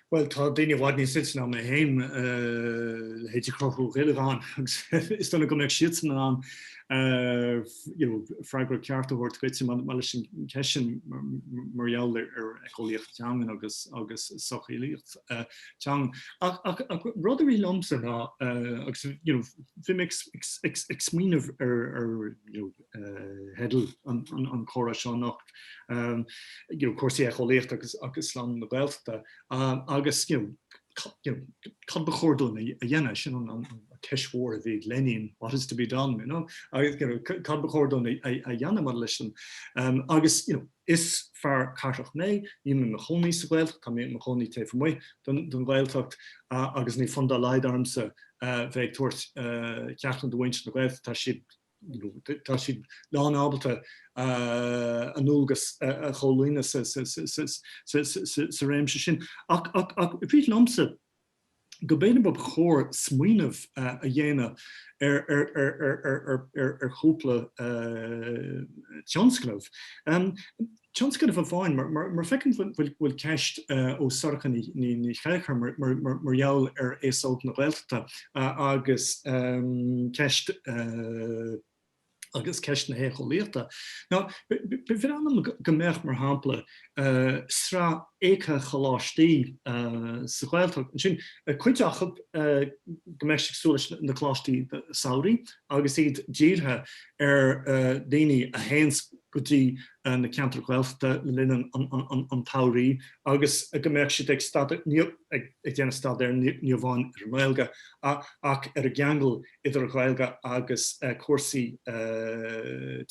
Bhuel tá daoine i bhfad níos oilte ná mé féin le hé seo a chothú, ceapaim, agus is dócha go mbeadh siadsan in ann you know freagra ceart a thabhairt duit maidir leis an ceist sin mar gheall ar éiceolaíocht teangan agus agus socheolaíocht. teangan. Ach ach ach rud a rith liomsa ná agus you know bhí mé ag ag ag smaoineamh ar ar you know theidil an an chomhrá seo anocht ehm you know cúrsaí éiceolaíochta agus agus slánú na Gaeltachta ehm agus you know you know cad ba chóir dúinn a dhéanamh? Sin an an ceist mhór a bhí ag Lenin what is to be done you know? Agus you know cad ba chóir dúinn a a dhéanamh maidir leis an ehm agus you know Is fear cathrach mé. Níl mé i mo chónaí sa Ghaeltacht, tá mé i mo chónaí taobh amuigh den Ghaeltacht agus níl fonn dá laghad ormsa bheith ag tabhairt ceachtanna do mhuintir na Gaeltachta, tá siad tá siad lánábalta a ndualgas a chomhlíonadh sa réimse sin. Ach rith sé liomsa go mb'fhéidir ba chóir smaoineamh a dhéanamh ar chúpla tionscnamh. Tionscnamh amháin, mar feicim go bhfuil ceist ó Sorcha Ní Chéilleachair mar gheall ar aos óg na Gaeltachta agus ceist, agus ceist na héiceolaíochta. Now ba bhreá liom go mbeadh, mar shampla, sraith éiceacholáistí sa Ghaeltacht. Sin, cuid acu, go mbeadh siad cosúil leis na coláistí samhraidh agus iad dírithe ar dhaoine a théanns go dtí na ceantair Ghaeltachta le linn an tsamhraidh agus go mbeadh siad ag déanamh staidéir ní amháin ar an nGaeilge ach ar an gceangal idir an Ghaeilge agus cúrsaí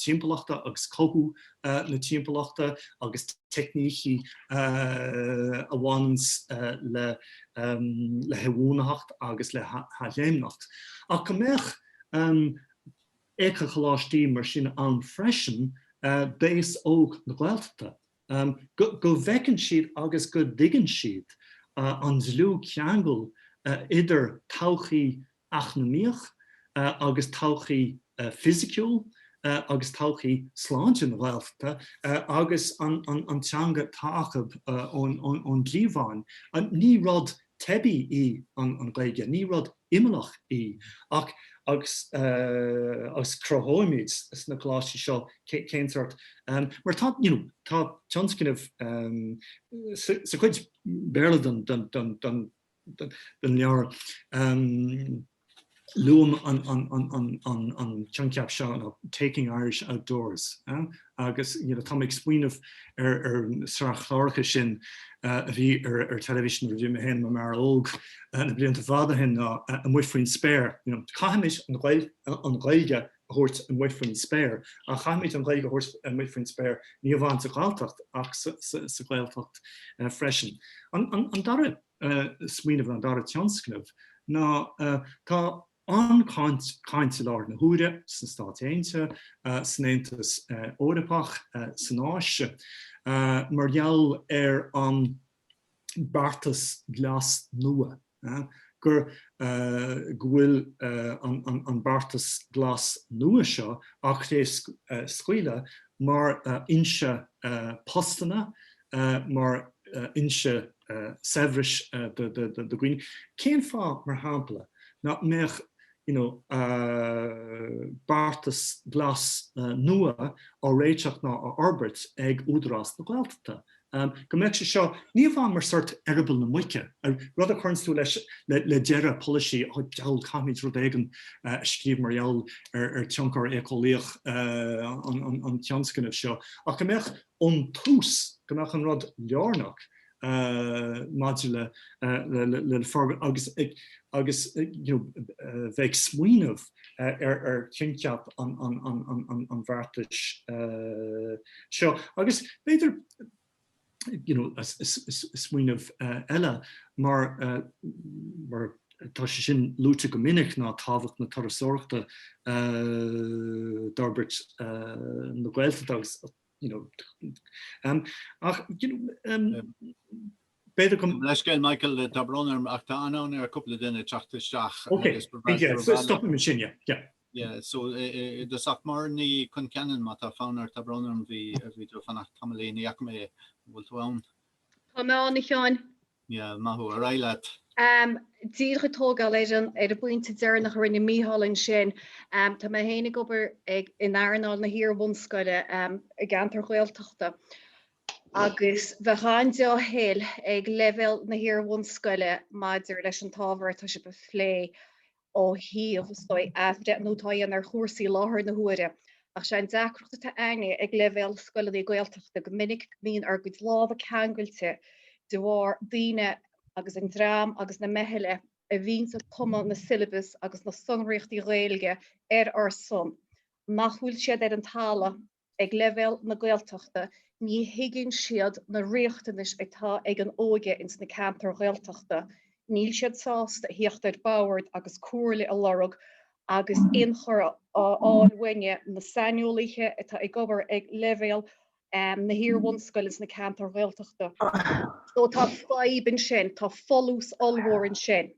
timpeallachta agus cothú na timpeallachta agus teicnící a bhaineanns le hinbhuanaitheacht agus le hathléimneacht, ach go mbeadh éiceacholáistí mar sin ann freisin d'aos óg na Gaeltachta, go bhfeiceann siad agus go dtuigeann siad an dlúthcheangal idir todhchaí eacnamaíoch agus todhchaí fisiciúil agus todhchaí sláinte na Gaeltachta agus an teanga atá acu ón gcliabhán. Ní rud teibí í an Ghaeilge, ní rud imeallach í ach agus cruthóimid sna coláistí seo cén sórt, mar tá you know tá tionscnamh sa chuid Béarla den den leabhar. Luaim an coincheap seo nó 'taking Irish outdoors' agus tá mé ag smaoineamh ar an sraith chláracha sin a bhí ar television nuair a bhí mé féin i m'fhear óg na blianta fada ó shin ná 'Amuigh Faoin Spéir'. Caithimis an Ghaeilge a thabhairt amuigh faoin spéir. Ach caithfimid an Ghaeilge a thabhairt amuigh faoin spéir, ní amháin sa Ghalltacht ach sa Ghaeltacht freisin. An dara smaoineamh nó an dara tionscnamh ná tá an-chaint i láthair na huaire sna Stáit Aontaithe, san Aontas Eorpach, san Áise mar gheall ar an beartas glas nua, gur go bhfuil an beartas glas nua seo á chraobhscaoileadh mar fhoinse postanna, mar fhoinse saibhris do dhaoine. Cén fáth, mar shampla, ná mbeadh you know beartas glas nua á réiteach ná á fhorbairt ag Údarás na Gaeltachta Am, go mbeadh sé seo ní amháin mar sort eireaball na muice, rud a chuireanns tú leis le deireadh polaisí, oh, diabhal, caithfimid rud éigin a scríobh mar gheall ar ar tionchar éiceolaíoch an tionscnaimh seo, ach go mbeadh ón tús, go mbeadh an rud lárnach maidir le le forbairt agus ag agus, you know, bheith ag smaoineamh. ar choincheap an bheartais seo. Agus b'fhéidir, you know, smaoineamh eile, mar mar tá sé sin luaite go minic, ná tábhacht na turasóireachta d'fhorbairt na Gaeltachta agus you know um ach you know um b'fhéidir Gabh mo leithscéal Michael tá brón orm ach tá an-fhonn ar cúpla duine teacht isteach Ok agus go bhfearr yeah so stopfaidh mé ansin yeah yeah yeah so does ach Máire Ní Choncheanainn má tá fonn ort tá brón orm bhí tú ag fanacht tamaillín, ní fhaca mé, an bhfuil tú ann? Tá mé ann a Sheáin. Yeah maith thú, ar aghaidh leat! Am díreach ag tógáil leis an ar an bpointe deireanach a rinne Mícheál ansin. Tá mé féinig ag obair ag in earnáil na hiar-bhunscoile i gceantar Gaeltachta agus bheadh an-dea-thoil ag leibhéal na hiar-bhunscoile maidir leis an t-ábhar atá sibh a phlé ó thaobh is dóigh athbhreithniú atá a dhéanamh ar chúrsaí i láthair na huaire ach sé an deacracht atá againne ag leibhéal scoileannaí Gaeltachta go minic go mbíonn ár gcuid lámha ceangailte de bharr daoine agus an dream agus na meithle a bhíonns ag cumadh na syllabus agus na sonraíochtaí Gaeilge ar ár son nach bhfuil siad ar an talamh ag leibhéal na Gaeltachta ní thuigeann siad na riachtanais atá ag an óige ins na ceantair Ghaeltachta, níl siad sásta a thíocht ar bord agus comhairle a lorg agus inchur a fháil uainne, na saineolaithe atá ag obair ag leibhéal na hiar-bhunscoile ins na ceantair Ghaeltachta. So tá fadhb ansin, tá folús ollmhór ansin.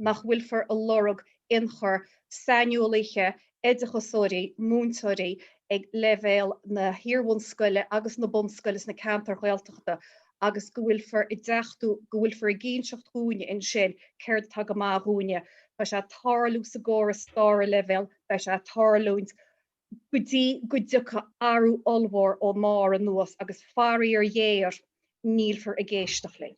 nach bhfuilfear a lorg ionchur saineolaithe, oideachasóirí, múinteoirí ag leibhéal na hiar-bhunscoile agus na bunscoile sna ceantair Ghaeltachta agus go bhfuilfear ag deachtú go bhfuilfear ag inseacht dhúinne ansin céard atá go maith dhúinne. Beidh sé ag tarlú sa gcóras tríú leibhéal, beidh sé ag tarlúint go dtí go dtiocfaidh athrú ollmhór ón mbarr anuas agus faraor ghéar nílfear ag éisteacht linn.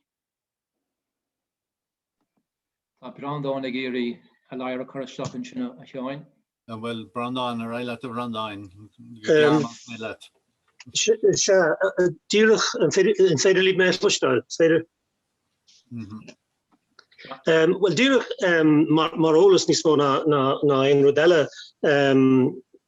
Tá Breandán ag iarraidh a ladhar a chur isteach ansin a Sheáin. Bhuel Breandán, ar aghaidh leat a Bhreandáin, go gearr más mian leat. Sea, díreach, an féidir libh mé a chloisteáil? Is féidir? Bhuel, díreach mar eolas níos mó ná aon rud eile,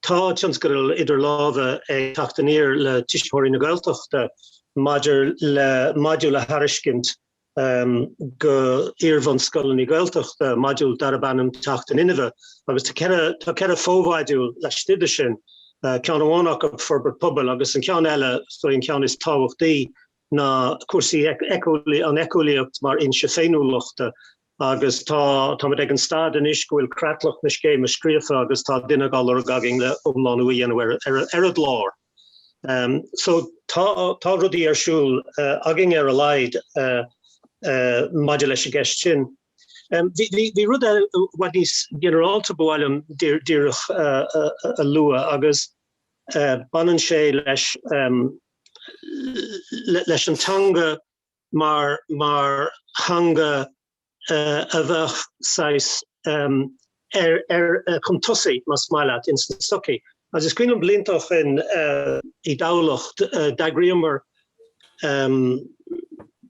tá tionscadal idir lámha ag Teacht Aniar le Tuismitheoirí na Gaeltachta maidir le modúl a thairiscint go iarbhunscoileanna Gaeltachta, modúl darb ainm Teacht in Inmhe, agus tá ceithre fho-mhodúl laistigh dó sin, ceann amháin acu Forbairt Pobail agus an ceann eile, is dóigh an ceann is tábhachtaí, ná cúrsaí an eiceolaíocht mar fhoinse féiniúlachta. Agus tá, táimid ag an staid anois go bhfuil creatlach na scéime scríofa agus tá duine á lorg againn le iomlánú a dhéanamh ar an gclár. So, tá rudaí ar siúl againn ar a laghad maidir leis an gceist sin. Bhí rud i bhfad níos ginearálta ba mhaith liom díreach a lua agus baineann sé leis leis an teanga mar mar theanga a bheadh saghas ar ar chun tosaigh más maith leat ins an tsochaí agus is cuimhin liom blianta ó shin i dTamhlacht d'eagraíomar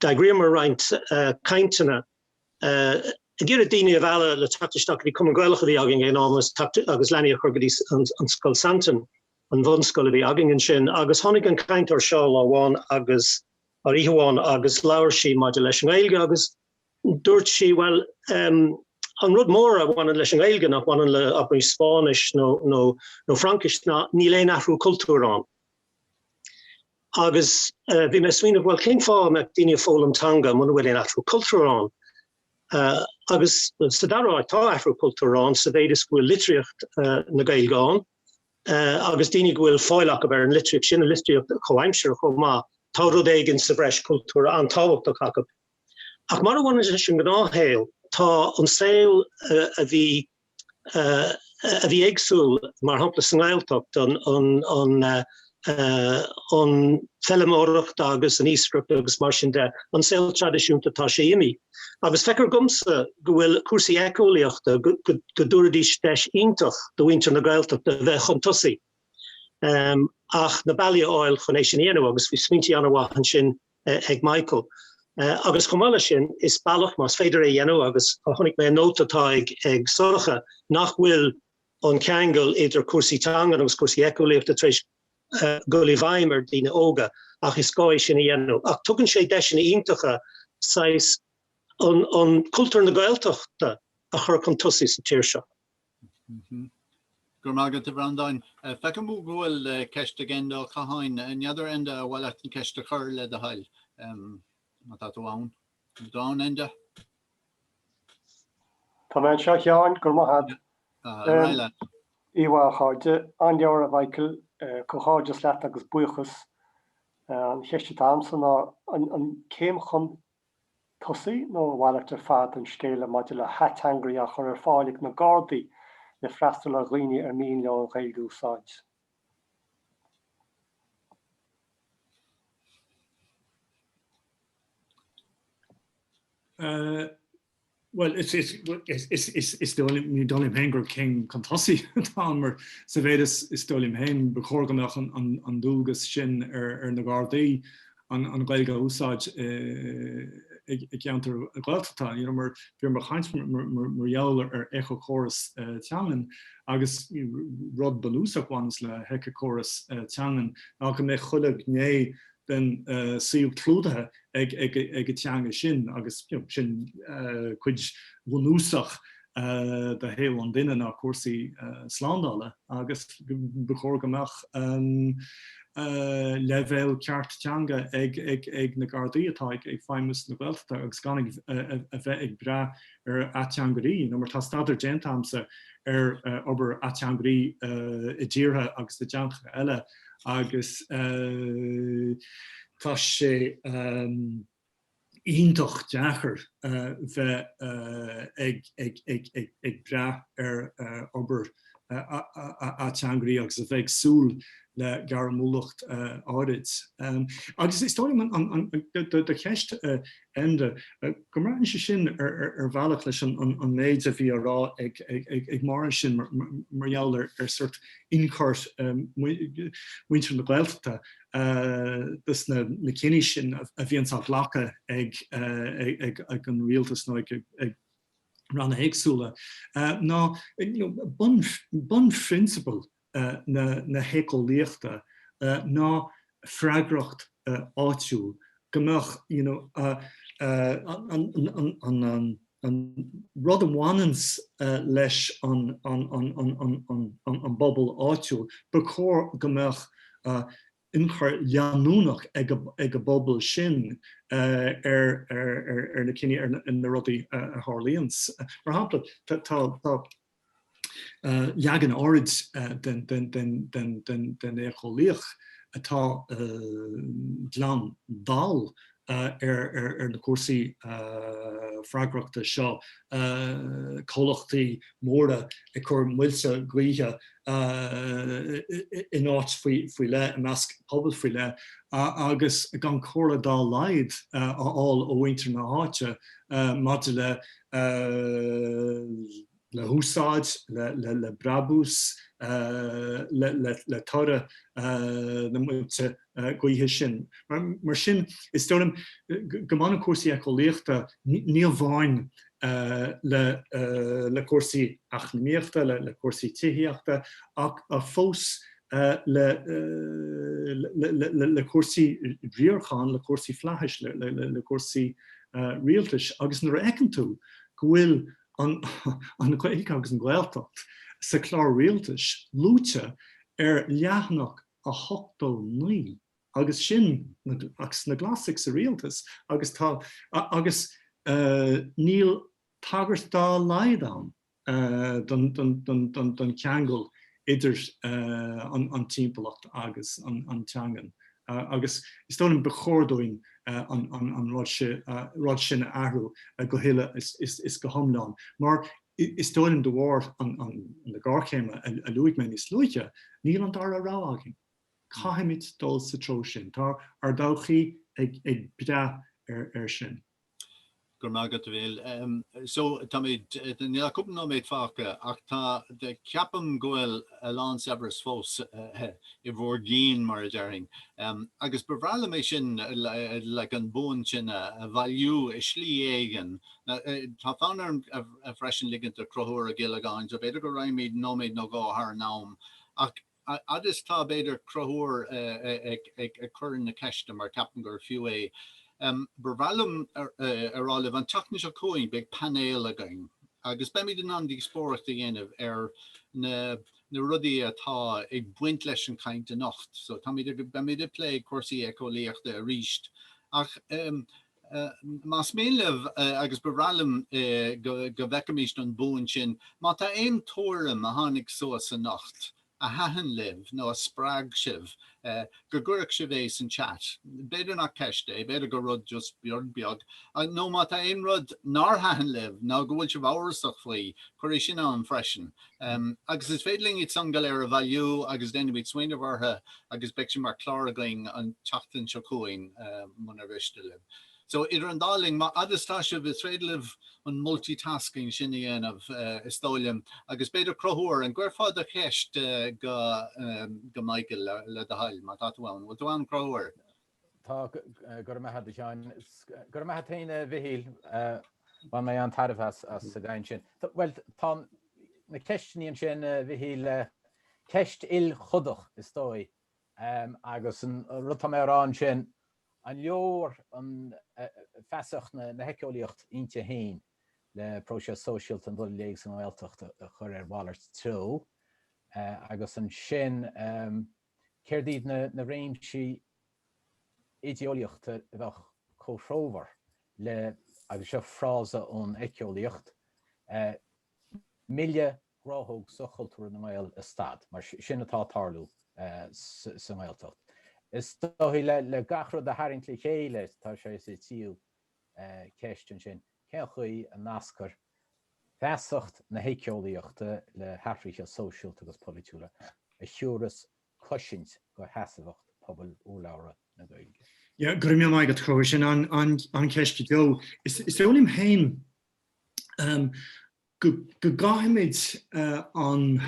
d'eagraíomar roinnt cainteanna ag iarraidh daoine a mhealladh le teacht isteach bhí Cumann Gaelach a bhí againn ag an am agus leanaí a chur go dtí an scoil Santain an bhunscoil a bhí againn ansin agus tháinig an cainteoir seo lá amháin agus nó oíche amháin agus labhair sí maidir leis an nGaeilge agus dúirt sí bhuel an rud mór a bhaineann leis an nGaeilge nach mbaineann le abair Spáinnis nó Fraincis ná níl aon athrú cultúir ann. Agus bhí mé ag smaoineamh bhuel cén fáth a mbeadh daoine ag foghlaim teanga muna bhfuil aon athrú cultúir ann? Agus sa dara háit tá athrú cultúir ann sa mhéid is go bhfuil litríocht na Gaeilge ann agus daoine go bhfuil fáil acu ar an litríocht sin, an litríocht chomhaimseartha chomh maith, tá rud éigin sa bhreis cultúrtha an-tábhachtach acu. Ach mar a bhaineann leis an ngnáthshaol, tá an saol a bhí a bhí éagsúil, mar shampla sa nGaeltacht, an fheilméaracht agus an iascaireacht agus mar sin de, an saol traidisiúnta, tá sé imithe. agus feictear dhomsa go bhfuil cúrsaí eiceolaíochta, go dtabharfaidís deis iontach do mhuintir na Gaeltachta a bheith chun tosaigh ach na bealaí a fháil chun é sin a dhéanamh agus bhí smaointí an-mhaith ansin ag Michael. Agus chomh maith leis sin, is bealach, más féidir é a dhéanamh agus chonaic mé an nóta atá ag Sorcha nach bhfuil an ceangal idir cúrsaí teangan agus cúrsaí eiceolaíochta tar éis dul i bhfeidhm ar dhaoine óga ach is gá é sin a dhéanamh. Ach tugann sé deiseanna iontacha saghas an cultúr na Gaeltachta a chur chun tosaigh sa tír seo. Go raibh maith agat, a Bhreandáin. Feicim go bhfuil ceist ag Enda Ó Catháin. N'fheadar, Enda, ar mhaith leat an ceist a chur, le do thoil, má tá tú ann. An bhfuil tú ann, Enda? Tá mé anseo a Sheáin, go raibh maith a't. Oíche mhaith a chairde, an-leabhar a Mhichael, comhghairdeas leat agus buíochas. An cheist atá agamsa ná an céim chun tosaigh nó a mhalairt ar fad an scéala maidir le hateangairí a chur ar fáil ag na Gardaí le freastal ar dhaoine ar mian leo an Ghaeilge a úsáid? Bhuel is is dóigh liom gur céim chun tosaigh atá ann mar sa mhéid is dóigh liom féin ba chóir go mbeadh an dualgas sin ar na Gardaí an Ghaeilge a úsáid i gceantair Ghaeltachta. Mar bhí mé ag caint mar gheall ar éiceachóras teangan agus rud bunúsach a bhaineanns le héiceachóras teangan ná go mbeidh chuile ghné den suíomh clúdaithe ag an teanga sin agus sin cuid bhunúsach de shaol an duine ná cúrsaí slándála agus ba chóir go mbeadh leibhéal ceart teanga ag na Gardaí atá ag feidhmiú sna Gaeltachtaí agus gan ag a bheith ag brath ar ateangairí nó mar tá staidéar déanta agamsa ar obair ateangairí i dtíortha agus i dteangacha eile agus tá sé iontach deacair bheith ag brath ar obair ateangairí agus a bheith ag súil le gairmiúlacht áirid. Agus is dóigh liom do cheist Enda, go mbrathann sé sin ar bhealach leis an méid a bhí á rá ag Máire ansin mar gheall ar sórt ionchur muintir na Gaeltachta, ins na cinní sin a bhíonns á ghlacadh ag an rialtas nó ag ranna éagsúla ná bunphrionsabail na héiceolaíochta, ná freagracht áitiúil, go mbeadh an. an rud a bhaineanns leis an bpobal áitiúil, ba chóir go mbeadh ionchur leanúnach ag an bpobal sin ar na cinní, na rudaí a tharlaíonns. Mar shampla, tá. leagan áirid den éiceolaíocht atá glan dall ar na cúrsaí freagrachta seo, comhlachtaí móra ag cur muilte gaoithe in áit faoi leith i measc pobal faoi leith agus gan comhairle dá laghad a fháil ó mhuintir na háite maidir le le húsáid, le brabús, le toradh na muilte gaoithe sin. Mar sin, is dóigh liom go mbaineann cúrsaí éiceolaíochta ní amháin le cúrsaí eacnamaíochta, le cúrsaí tithíochta ach fós le cúrsaí riaracháin, le cúrsaí flaithis, le cúrsaí rialtais agus nuair a fheiceann tú go bhfuil an Ghaeilge agus an Ghaeltacht sa chlár rialtais luaite ar leathanach a hochtó naoi agus sin agus na Glasaigh sa rialtas agus tá agus níl tagairt dá laghad ann don cheangal idir an timpeallacht agus an teangain agus is dóigh liom ba chóir dúinn an rud sin a athrú go huile is go hiomlán mar is dóigh liom de bharr na géarchéime a luaigh mé níos luaithe, níl an dara rogha againn. Caithfimid dul sa treo sin. Tá ár dtodhchaí ag brath ar sin. Go raibh maith agat, a Mhichíl. So, táimid, níl ach cúpla nóiméad fágtha, ach tá, ceapaim go bhfuil a lán saibhris fós i bhur gcinn, mar a déarfainn. Agus ba bhreá liom é sin, like, an bhuain sin a bhailiú i slí éigin. Tá fonn orm freisin ligint do Conchúr Ó Giollagáin, so b'fhéidir go raghaimid nóiméad nó dhó thar an am, ach, Fhad is tá, b'fhéidir, Conchúr ag cur na ceiste mar ceapaim gur fiú é. Ba bhreá liom a rá libh, an tseachtain seo chugainn beidh painéal againn agus beimid in ann díospóireacht a dhéanamh ar na rudaí atá ag baint leis an chaint anocht. So beimid ag plé cúrsaí éiceolaíochta arís ach Más mian libh, agus ba bhreá liom, go bhfeicfimis an bhuain sin, má tá aon tuairim a tháinig suas anocht a thaitin libh nó a spreag sibh, go gcuirfeadh sibh é san chat. B'fhéidir nach ceist é, b'fhéidir gur rud just beag beag. Nó má tá aon rud nár thaitin libh nó go bhfuil sibh amhrasach faoi, cuir é sin ann freisin. Agus is féidir linn iad san go léir a bhailiú agus déanfaimid smaoineamh orthu agus beidh sin mar chlár againn an tseachtain seo chugainn munar mhiste libh. So idir an dá linn, má fhad is atá sibh, is féidir libh an multitasking sin a dhéanamh is dóigh liom agus b'fhéidir Conchúr an gcuirfeá do cheist go Michael le do thoil má tá tú ann. An bhfuil tú ann Conchúr? Tá, go raibh maith agat a Sheáin. Go raibh maith agat féin a Mhichíl, bhain mé an-tairbhe as an gcaint sin. Bhuel, tá na ceisteanna ansin a Mhichíl, ceist ilchodach is dóigh, agus an rud atá mé a rá ansin, an leor an feasacht na héiceolaíochta inti féin le próiseas sóisialta an dul i léig sa nGaeltacht a chur ar mhalairt treo agus ansin, Céard iad na réimsí idéolaíochta a bheadh comhthreomhar le, agus seo frása ón éiceolaíocht, milleadh gnáthóg soch-chultúrtha na nGael a stad? Mar sin atá ag tarlú sa nGaeltacht. Is dóigh le gach rud a tharraingt le chéile tá sé sa tríú ceist ansin, cén chaoi a nascfar feasacht na héiceolaíochta le hathruithe sóisialta agus polaitiúla a thiúras cosaint do sheasmhacht pobal urlabhra na Gaeilge? Yeah, go raibh míle maith agat, Conchúr. Sin an-cheist go deo. Is dóigh liom féin. go gcaithfimid an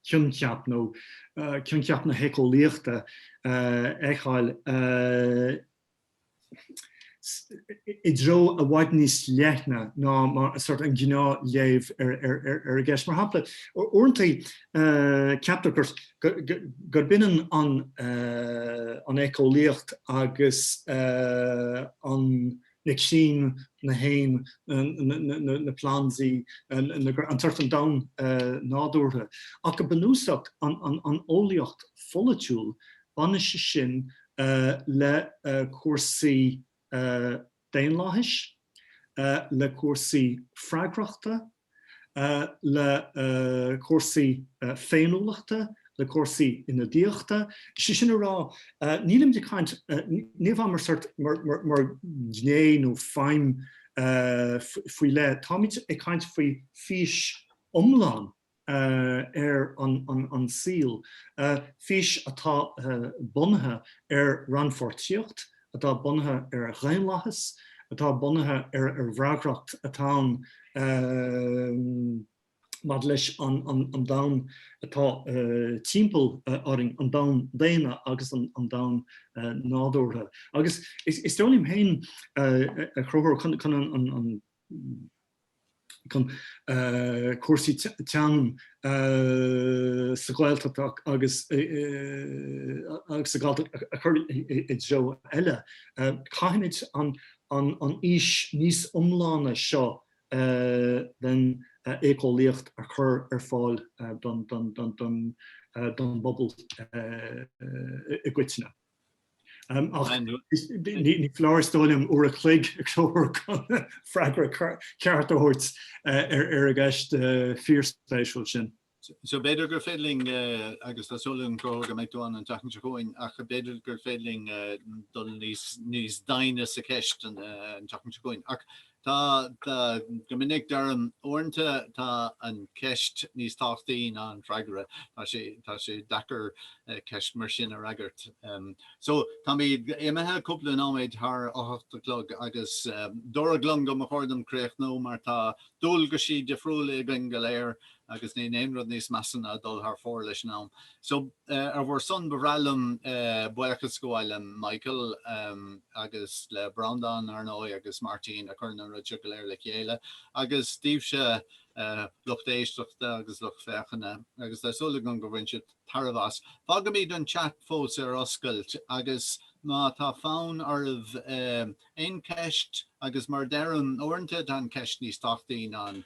coincheap nó coincheap na héiceolaíochta a fheiceáil i dtreo i bhfad níos leithne ná mar sórt an gnáth léamh ar ar an gceist. Mar shampla, uaireanta ceaptar gurb ionann an éiceolaíocht agus an. na crainn, na héin, na plandaí, an tsórt, an domhan nádúrtha. Ach go bunúsach, an eolaíocht pholaitiúil, baineann sé sin le cúrsaí daonlathais, le cúrsaí freagrachta, le cúrsaí féiniúlachta, le cúrsaí ionadaíochta. Sé sin a rá, nílimid ag caint, ní amháin mar sórt, mar ghné nó feidhm faoi leith, táimid ag caint faoi fís iomlán ar an saol, fís atá bunaithe ar rannpháirtíocht atá bunaithe ar dhaonlathas, atá bunaithe ar fhreagracht, atá againn maidir leis an domhan atá timpeall orainn, an domhan daonna agus an domhan nádúrtha. Agus is dóigh liom féin, a Chathaoirligh, chun an. chun cúrsaí teangan sa Ghaeltacht agus sa Ghalltacht a chur i dtreo eile. Caithfimid an fhís níos iomláine seo den éiceolaíocht a chur ar fáil don bpobal i gcoitinne. Ach ní foláir is dóigh liom uair a chloig a thabhairt chun freagra ceart a thabhairt ar an gceist fíorspéisiúil sin. So b'fhéidir gur féidir linn, agus tá súil agam go mbeidh tú ann an tseachtain seo chugainn, ach b'fhéidir gur féidir linn dul níos doimhne sa cheist an tseachtain seo chugainn. Ach Tá, tá. Go minic deirim, uaireanta tá an cheist níos tábhachtaí ná an freagra. Tá sé, tá sé deacair ceist mar sin a fhreagairt. So, táimid imithe cúpla nóiméad thar a hocht a chlog agus dúradh liom go mba chóir dom críochnú mar tá dualgais difriúla againn go léir agus níl aon rud níos measa ná dul thar fóir leis an am so ar bhur son ba bhreá liom buíochas a ghabháil le Michael agus le Breandán ar ndóigh agus Martin a chuireann an rud so go léir le chéile agus daoibhse lucht éisteachta agus lucht féachana agus tá súil agam gur bhain sibh tairbhe as. Fágfaimid an chat fós ar oscailt agus má tá fonn oraibh aon cheist agus mar a deirim uaireanta tá an cheist níos tábhachtaí ná an